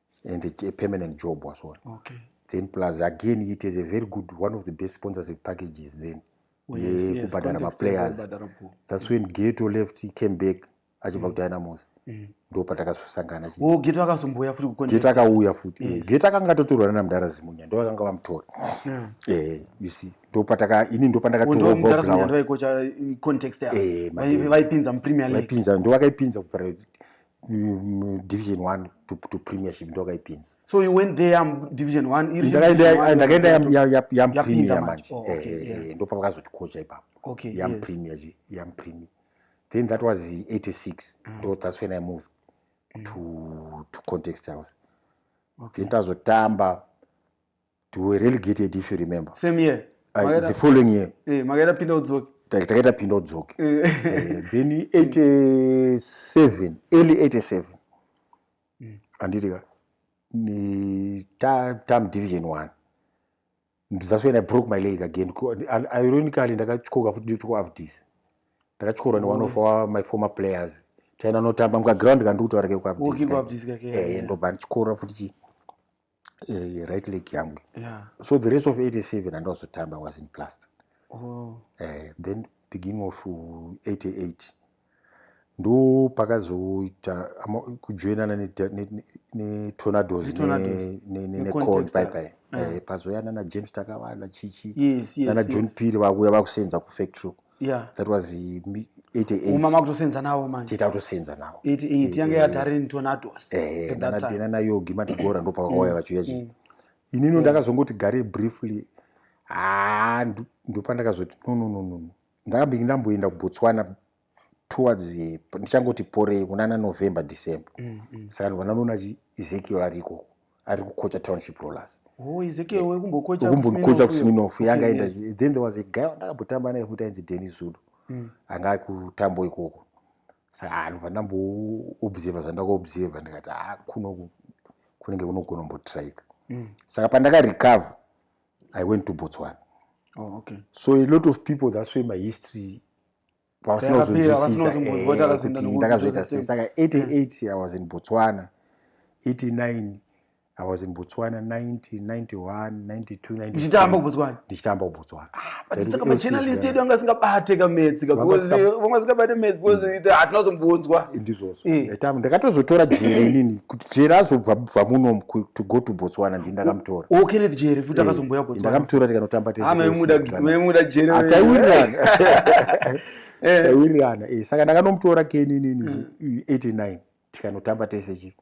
B: and a, a permanent job was all okay. then plus again it is a very good one of the best sponsorship packages then oh, yekubhadhara yes, maplayers that's when geto left he came back achibva mm. kudynamos mm. ndo patakazosangana oh, geto akazombouya
A: futi geto akauya futi
B: eh, yes. geto akanga atotorwa nana mudhara zimunya ndo akanga vamutora yeah. eh, you see ndo pataka ini ndo pandakatovaipinza oh,
A: eh, mupremier league ndo vakaipinza kuvhara
B: division 1 to, to premiership ndokayipinza so you went there um,
A: division 1 ndakaenda
B: yampremier manje oh, eh, eh, eh, ndopa vakazoti coacha ipapo okay, yampremier yes. yampremier then that was 86 mm. ndo that's when i moved mm. to, to context house okay. then tazotamba to a relegated if you remember same year uh, Magera,
A: the following
B: year eh, makaita pinda
A: udzoke takaita pinda udzoke
B: eh. eh, then 87 early 87 mm. anditi ka ni tam ta division one that's when i broke my leg again ironically ndakatyoka futi nditiko of this ndakatyorwa ne one of mm. our my former players taina notamba mukaground kandikutaura kekuabdisndobva ndichikora futi chii uh, right leg yangu yeah. so the rest of 87 andazotamba was in plaster oh. uh, then beginning of 88 uh, ndo pakazoita kujoinana netornados necon paipai pazoyana najames takavana chichi nana john piri vakuya vakusenza kufactory yeah. that was 88makutosenza nawo
A: manje tiita kutosenza nawo
B: 88 yanga eh, yadarini
A: tornados eh, nana
B: nayogi matigora ndopakauya mm. vachiuya chii mm. inino mm. ndakazongoti gare briefly haa ndopandakazoti no no no no ndakambingi ndamboenda kubotswana towards eh, ndichangoti porei kunana november december mm, mm. saka ndivana noona chi ezekiel arikoko ari kukocha township rollers
A: kumbonikocha sminof
B: yanga aenda then there was a guy wandakambotamba naye futi ainzi deni zulu mm. anga akutambo ikoko saka anobva ah, ndamboobserva zvandakuobserva ndikati a ah, kuno kunenge kunogona kumbotrika mm. saka pandakarecover i went to botswana oh,
A: okay. so a lot of
B: people that's way my history vasinozonzwisisaakuti eh, ndakazviita sei saka 88 i was in botswana 89 i was in botswana 90 91 92 ndichitamba kubotswana
A: ndichitamba kubotswana
B: ah, machinalist
A: yedu anga asingabate kametsi vanga asingabate metsi because mm. hatina kuzombonzwa ndizvozvo eh.
B: ndakatozotora jere inini kuti jere azobva bva muno to go to botswana ndi ndakamutora o kenneth jere futi eh,
A: akazomboya botswana ndakamutora tikanotamba
B: tesemuda jere
A: hataiwirirana
B: eh. taiwirirana eh, saka ndakanomutora keninini 89 mm. tikanotamba tese chi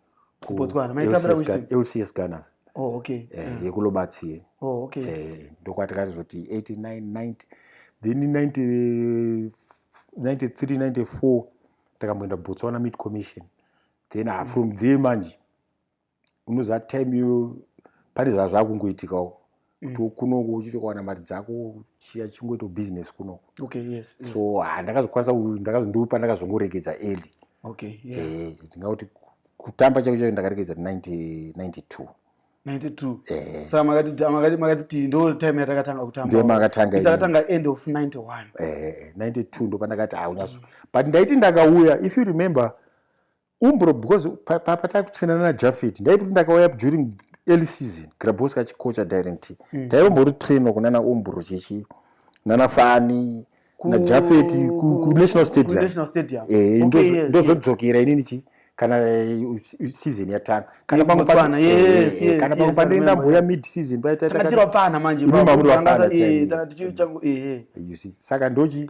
A: lcs gunners
B: oh, okay. eh, mm.
A: yekulobatsiye
B: oh, okay. eh,
A: ndokwatikazoti 89 90
B: then 93 94 takamboenda botswana mid commission then ah, from there manje unoziva time iyo pane zva zvakungoitikawo mm. kuti kunoko uchitokawana mari dzako chiya chingoita business kunoko okay, yes, yes.
A: so ah, ndakazokwanisa
B: ndakazondiwe pandakazongoregedza eli okay, yeah.
A: eh, ndingauti
B: kutamba chako chacho ndakaregedza 92 92
A: eh. saka makati makati ti ndo time yatakatanga kutambaakatanga
B: end of 91
A: eh, 92
B: ndo pandakati haunyaso ah, mm. but ndaiti ndakauya if you remember Umbro because papa takutsvinana na Jafet ndaiti kuti ndakauya during early season Grabowska chikocha direct mm. taimbori trainer kunana Umbro chechi nana Fani ku, na Jafet ku, ku National Stadium ku National Stadium eh okay, yes, yes. ndozodzokera inini chi kana eh, season yatanga kana pamwe pana yes eh, yes kana pamwe pane ndamboya mid season paita takatirwa pana manje
A: baba mangasa eh tana tichiri changu
B: eh, eh you see saka ndochi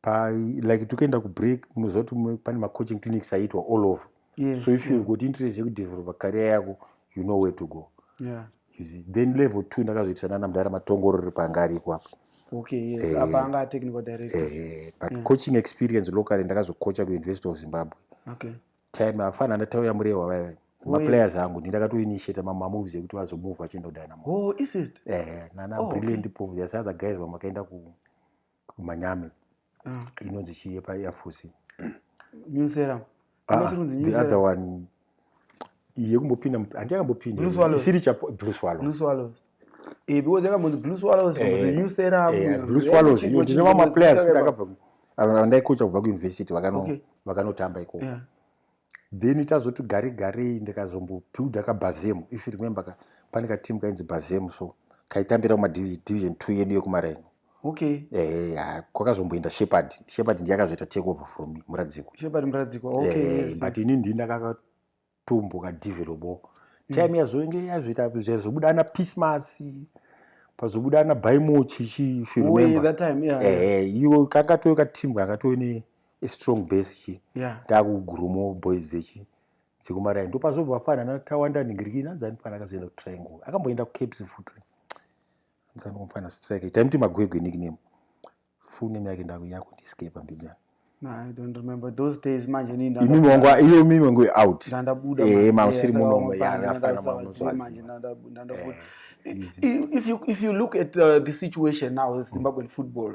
B: pa like tokuenda kubreak munoziva kuti pane macoaching clinics aiitwa all over yes, so if yeah. you got interest yekudevelopa career yako you know where to go yeah. you see. then level two ndakazoitisa nana mudhara matongorori panga ariko apa okay, yes. eh,
A: apa anga atechnical director eh, eh, but yeah. coaching
B: experience locally ndakazokocha kuuniversity of zimbabwe okay.
A: time afana
B: ndatauya murehwa vaive maplayers angu ndi ndakatoinitiata mamamoves ekuti vazomove vachienda kudynamo oh, is it eh,
A: nana oh, brilliant
B: okay. pov the other guys vamakaenda ku kumanyame ah. inonzi chii yepaeafosi nyusera
A: ah, the
B: other one yekumbopinda handi yakambopinda isiri chablue swallows
A: eh, because yakambonzi blue swallows eh, the new serum eh, blue swallows iyo ndine
B: vamaplayers kuti akabva vandaikocha kubva kuuniversity vakanotamba ikoko then tazoti gare garei ndikazombobuilda kabhazemu if remember ka pane kateam kainzi bhazemu so kaitambira kumadivision two yedu yekumaraini okay eh
A: ha
B: kwakazomboenda shepherd shepherd ndiye akazoita take over from me muradziko shepherd muradziko okay eh,
A: yes. but ini ndini
B: ndakakatomboka developo mm. time mm. yazoinge yazoita zvazobuda ana pismas pazobuda ana baimochi chifirumemba eh, eh,
A: iyo
B: kakatoyo kateam kakatoyo ne strong base chi yeah. takugurumo boys dzechi dzekumarai ndopazobva vafana ana tawanda ningiriki nanzi anifana akazoenda kutriangle akamboenda kucaps futi anzi anomfana strike taimuti magwegwe nickname full name yake ndakuyakundiescapa
A: mbijana iyo mimi
B: wangu out eh, mausiri
A: munomo
B: yafana maunozwazi
A: if you if you look at uh, the situation now with mm. Zimbabwean football,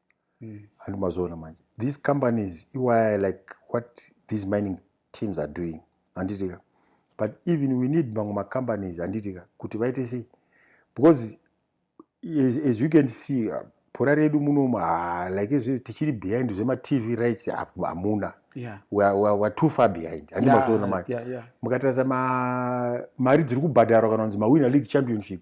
B: mm. and mazoona manje these companies iwaya like what these mining teams are doing handitika but even we need mamwe macompanies handitika kuti vaite sei because as, as you can see uh, pora redu munomu ah, like izvi tichiri behind zvematv rights hamuna yeah. weare too far behind handimazoona yeah, manje yeah, yeah. mukatarisa mari dziri kubhadharwa kana kunzi mawinner league championship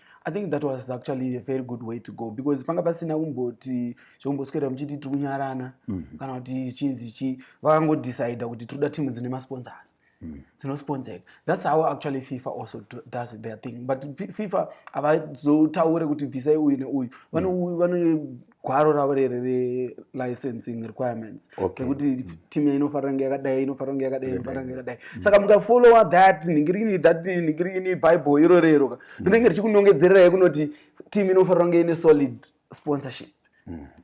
A: i think that was actually a very good way to go because panga pasina kumboti zvekumboswera muchiti tiri kunyarana mm. kana kuti chinzi chi vakangodecida kuti tiri kuda timu dzine masponsors mm. dzinosponsored thats how actually fifa also does their thing but fifa havazotaure kuti bvisai uyu neuyu mm. gwaro ravo rere relicensing requirements rekuti okay. Mm. team inofanira kunge yakadai inofanira kunge yakadai inofanira kunge yakadai mm. saka mukafollowa that ningirini that ningirini bible iro rero mm. rinenge richikunongedzererai kunoti team inofanira kunge ine solid sponsorship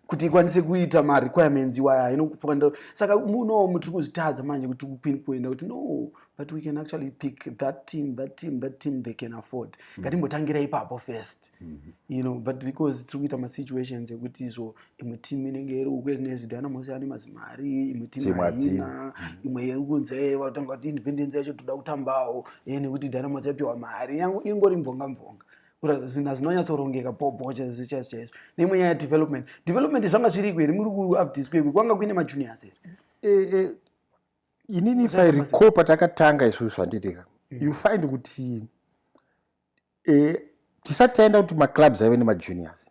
A: kuti ikwanise kuita marequirements iwaya inofanira saka munowo mutiri kuzvitadza manje kuti kuini kuenda kuti no but we can actually pick that team that team that team they can afford mm. ngatimbotangira ipapo first mm -hmm. you know but because tiri kuita masituations ekuti izvo imwe team inenge iri uku ezine zidana mose ane mazimari imwe team haina mm. imwe iri kunzi e eh, vatanga kuti independence yacho toda kutambawo e eh, nekuti dana mose yapiwa mari yangu ingori mvonga mvonga zvinhu zvinonyatsorongeka bhobocha zvichaizvo chaizvo neimwe nyaya development development zvanga zviriko here muri kuupdiskwekwe kwanga kuine majuniors here eh,
B: inini if i recall patakatanga isusu handitika mm. you find kuti eh, tisati taenda kuti maclubs aive nemajuniors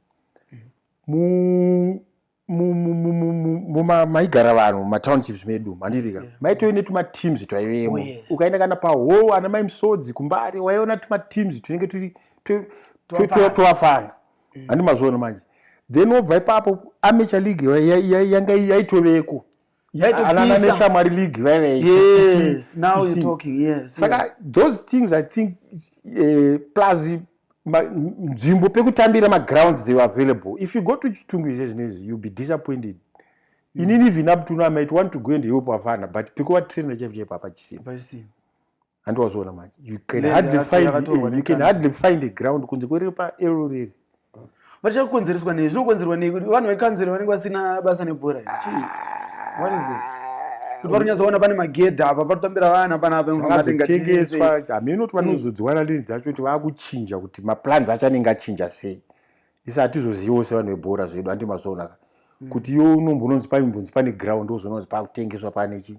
B: maigara vanhu mumatownships medu mandirika maitove netumateams twaivemo oh, ukaenda kana pahall ana mai musodzi kumbari waiona tumateams tunenge turi twavafana mm. handi mazviona manje then wobva ipapo amature league yanga yaitoveko yaitopisashamwari league vaivesaka
A: those
B: things i think eh, plus nzvimbo pekutambira magrounds they were available if you go to chitungu izve zvinoizvi youll be disappointed mm. inini even up to now might want to go and help avana but pekuvatrainer chaivo chaipo hapachisina handi wazoona manje you can Lenda hardly yacho find yakatorwa a, you can nekanzuru. hardly find a ground kunze kweriri pa ero riri
A: vachakonzereswa nei zvinokonzerwa nei kuti vanhu vekanzero vanenge vasina basa nebhora iri. Chii? What is it? kuti vari kunyatsoona pane magedha apa patotambira vana panapa zvakazotengeswa
B: hameno kuti vanozodziwana lini dzacho kuti vakuchinja kuti maplans acho anenge achinja sei isi hatizoziviwo sevanhu vebhora zvedu handi mazoonaka kuti yo unombononzi paimbonzi pane ground ozoona kuti pakutengeswa pane chii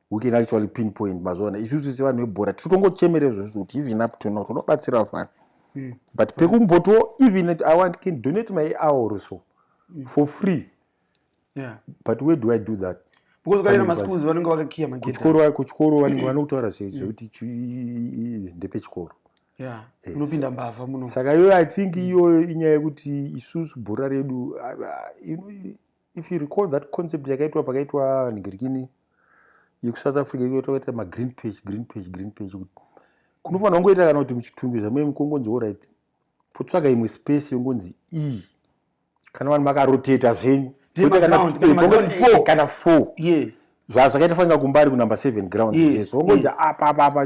B: we can actually pinpoint mazuva ano isusu sevanhu vebhora tiri kutongochemera izvozvo kuti even up to now tonobatsira fana hmm. but pekumbotiwo even at i want can donate my hour so hmm. for free yeah. but where do i do that
A: kuchikoro vanenge vanokutaura
B: zvekuti hmm. ndepechikoro
A: eh, unopinda mbavha muno saka iyoyo i think
B: iyoyo inyaya yekuti isusu bhora redu if you recall that concept yakaitwa pakaitwa nigirikini yekusouth africa ikutoita magreen page green page green page kuti kunofanira kungoita kana kuti muchitungu zvamai mukongonzi orit potsvaga imwe space yongonzi iyi e. kana vanhu makaroteta zvenyu eh, kana four zvazvakaita
A: fanira
B: kumbari kunumber seven ground zvezvo ongonzi apapapa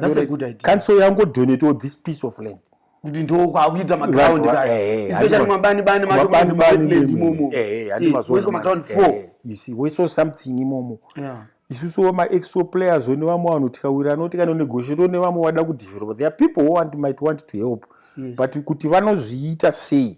B: kanso yangodonetawo this piece of land yes. kuti ndokwakuita
A: maground kaaespecially mabani bani maoimomo oiswa
B: maground four you
A: see woiswa
B: something imomo yeah isusu wemaexo players one vamwe vanhu tikawira anoti kana negosheti one vamwe vada kudevelopa there are people who want, might want to help yes. but kuti vanozviita sei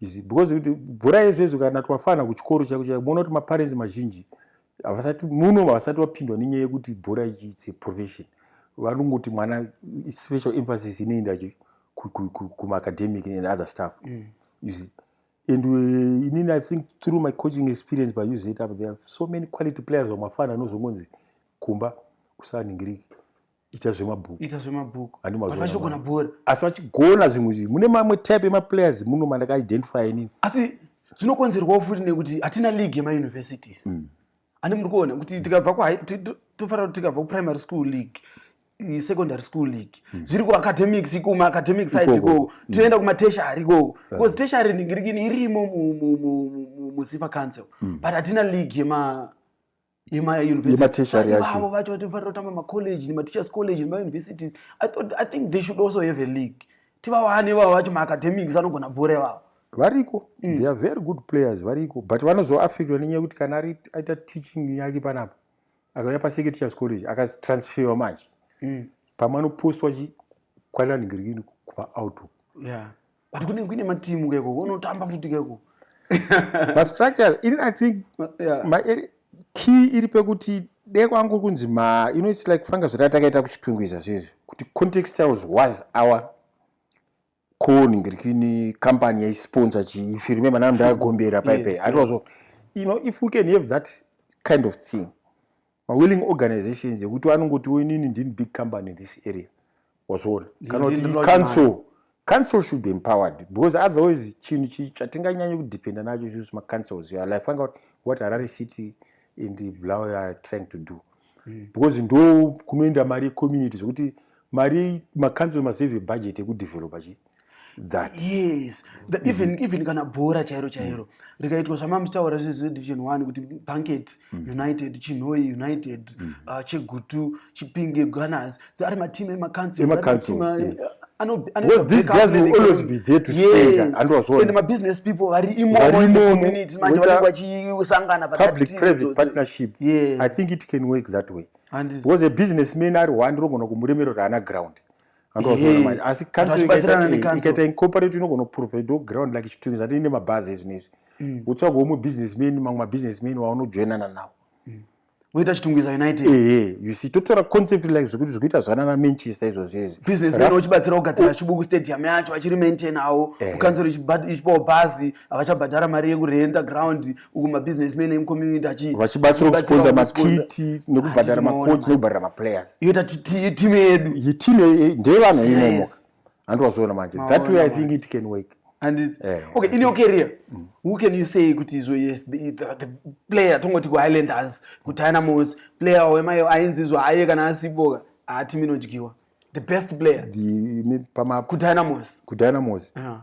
A: izvi
B: because kuti bhora yezvezvo kana twafana kuchikoro chako chako moona kuti maparensi mazhinji havasati muno havasati vapindwa nenyaya yekuti bhora its a profession vanongoti mwana special emphasis inoenda kumaacademic and other stuff mm. you see and uh, inini i think through my coaching experience by use it up there so many quality players vamafana anozongonzi kumba kusaningiriki ita zvemabhuku ita zvemabhuku vachitogona
A: bhora asi vachigona
B: zvimwe izvi mune mamwe type emaplayers muno mandakaidentify inini asi
A: zvinokonzerwawo futi nekuti hatina league yemauniversities mm. ani muri kuona kuti tikabva tofanira kuti tikabva kuprimary school league secondary school league mm. zviri kuacademics kuma academic side ikoko mm. toenda kumateshari ikoko because teshari ningirikini irimo muzifa council but hatina league yema yematertiary yacho vacho vati vanofanira kutamba macollege nemateachers college nemauniversities i thought i think they should also have a league tivawane vavo vacho maacademics anogona bhora ivavo variko mm.
B: they are very good players variko but vanozoaffectwa nenyaya yekuti kana aita teaching yake panapa akauya paseketeachers college akatransferwa manje mm. pamwe anopostwa kwananigirigini kumaoutlook yeah. but
A: kunenge kuine matimu keko unotamba futi keko
B: mastructure ini i think yeah. ma, key iri pekuti dee kwangu kunzi ma you know its like fanga zvata takaita kuchitungu izva zviizvi kuti context yaus was our coni ngirikini company yaisponsor chii if you remember now ndaagombera paipe yes, yeah. you know if we can have that kind of thing mawilling organizations ekuti anongotiwo inini ndini big company in this area wazviona kana kuti council council should be empowered because otherwise chinhu chii chatinganyanye kudependa nacho isus macouncils ya life anga kuti what harare city and blaw are trying to do hmm. because ndo kunoenda mari yecommunity zvekuti mari macouncil masave budget ekudevelopa chii that yes
A: that even mm. even kana bhora chairo mm. chairo rikaitwa zvamamutaura zvezvedivision 1 kuti banket mm. united chinhoi united mm. uh, chegutu chipinge gunners ari mateam emacouncil because
B: these guys will always be there to stay yes. and was all and my business
A: people vari imomo in the community manje vari vachisangana public private
B: partnership yes. i think it can work that way and because a businessman ari one rongona kumuremero raana ground asi ikaita incorporate inogona kuprovide ground like chitungi zati ine mabhazi ezvino izvi mm. wotsvaga womwe businessman mamwe mabusinessman waunojoinana nawo mm. woita
A: chitungwiza united ehe you see totora
B: concept like zvekuti zvikuita zvanana manchester izvozvo izvi businessman uchibatsira
A: kugadzira chibuku stadium yacho achiri maintain awo kukanzero ichipawo bhazi havachabhadhara mari yekurenta ground uku mabusinessman emucommunity achivachibatsira kusponsa
B: makiti nekubhadhara macoach nekubhadhara maplayers yoita timu
A: yedu yitimu eh, ndeyevana
B: imomo hanti wazoona manje that way i think it can work and it, yeah, eh,
A: okay in your career mm. who can you say kuti izvo yes the, the, the player tongoti kuhighlanders kudynamos player wemayo ainzi izvo aye kana asiboka haatimu inodyiwa the best player kudynamos kudynamos
B: yeah.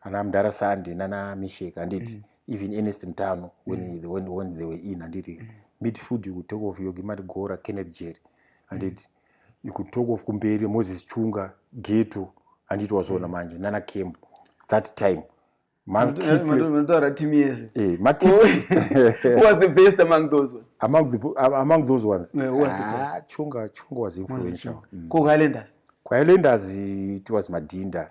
B: ana mdara sandi nana mishek anditi mm. even enest mtano when, mm. the, when, when they were in anditi mm. midfield you could talk of yogimati gora kenneth jerry anditi mm. you could talk of kumberi moses chunga geto anditi wazoona mm. manje nana camp that time
A: manotaura team yese eh, was the best among those ones among the, among those
B: ones no, who was the ah, best?
A: chunga chunga was
B: influential mm. ko highlanders
A: ko highlanders
B: it was madinda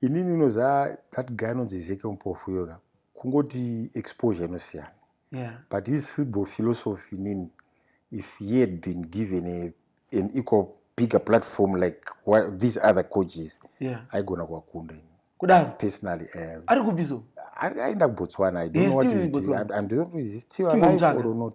B: ini ndinoziva that guy anonzi ezeke mupofu yoga kungoti exposure inosiyana yeah. but his
A: football
B: philosophy nini if he had been given a, an equal bigger platform like what, these other coaches yeah. aigona kuwakunda ini kudaro personally um, ari kubizo
A: aenda
B: kubotswana i don't know what he's doing i don't know is he still alive or not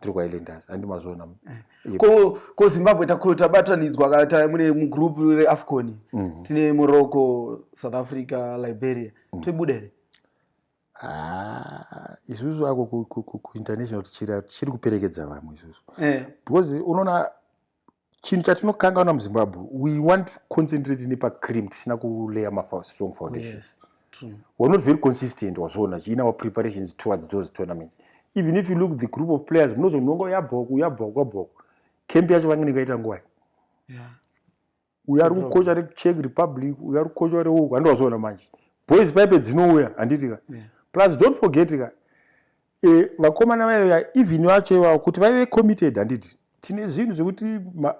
B: tiri kwailenders handi mazviona eh. ko
A: ko zimbabwe tabatanidzwa kana ta mune mugroup reafcon mhm. tine morocco south africa liberia mhm. toibuda here ah,
B: isusu ako kuinternational tichiri kuperekedza vamwe isusu eh. because unoona chinhu chatinokangaona muzimbabwe we want to concentrate nepacream tisina kulayer mastrong foundations yes,
A: we're not very consistent
B: wazviona chiina our preparations towards those tournaments even if you look the group of players munozononga yabvaku yabvaku yabvaku camp yacho vange nekaita nguvai yeah.
A: uyo
B: ari kukocha rechek republic uyo ari kukocha reuku handi wazoona manje boys paipe dzinouya handiti ka plus don't forget ka e, vakomana vaiya even vacho ivavo kuti vaive committed handiti tine zvinhu zvekuti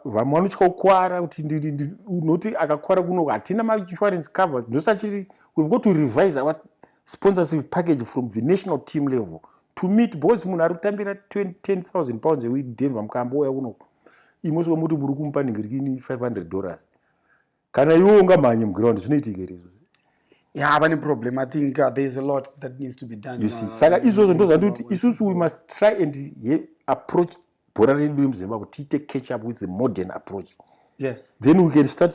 B: vamwe vanotya kukwara kuti unoti akakwara kuno hatina mainsurance cover ndosachiti we've got to revise our sponsorship package from the national team level to meet bos munhu ari kutambira 10000 pounds eweek denver mukaambouya kunoku imwe soko muti muri kumupa ningirikini 500 dollars kana iwe ungamhanye muground zvinoitika here izvozvo yeah vane
A: problem i think uh, there is a lot that needs to be done you see saka izvozvo ndo
B: zvandoti isusu we must try and ye, approach bhora redu remuzimbabwe tiite catch up with the modern approach yes then we
A: can start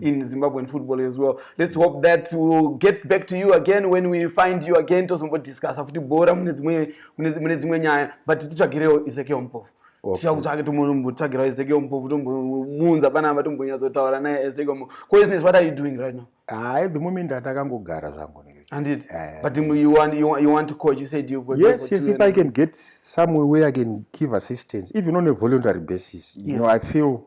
A: in Zimbabwean football as well. Let's hope that we'll get back to you again when we find you again. Tozombo discuss futi bora mune dzimwe mune dzimwe nyaya but titsvagirewo Ezekiel Mpofu. Tichakutsvake tombotsvagira Ezekiel Mpofu tombomuunza panapa tombonyatsotaura naye Ezekiel Mpofu. Ko business what are you doing right now? Ah, at the moment
B: atakangogara zvangu nekuti. And it. Uh, but
A: you want you want you want to coach you said you've got Yes, yes, if I can get
B: somewhere where I can give assistance even on a voluntary basis. You yes. know, I feel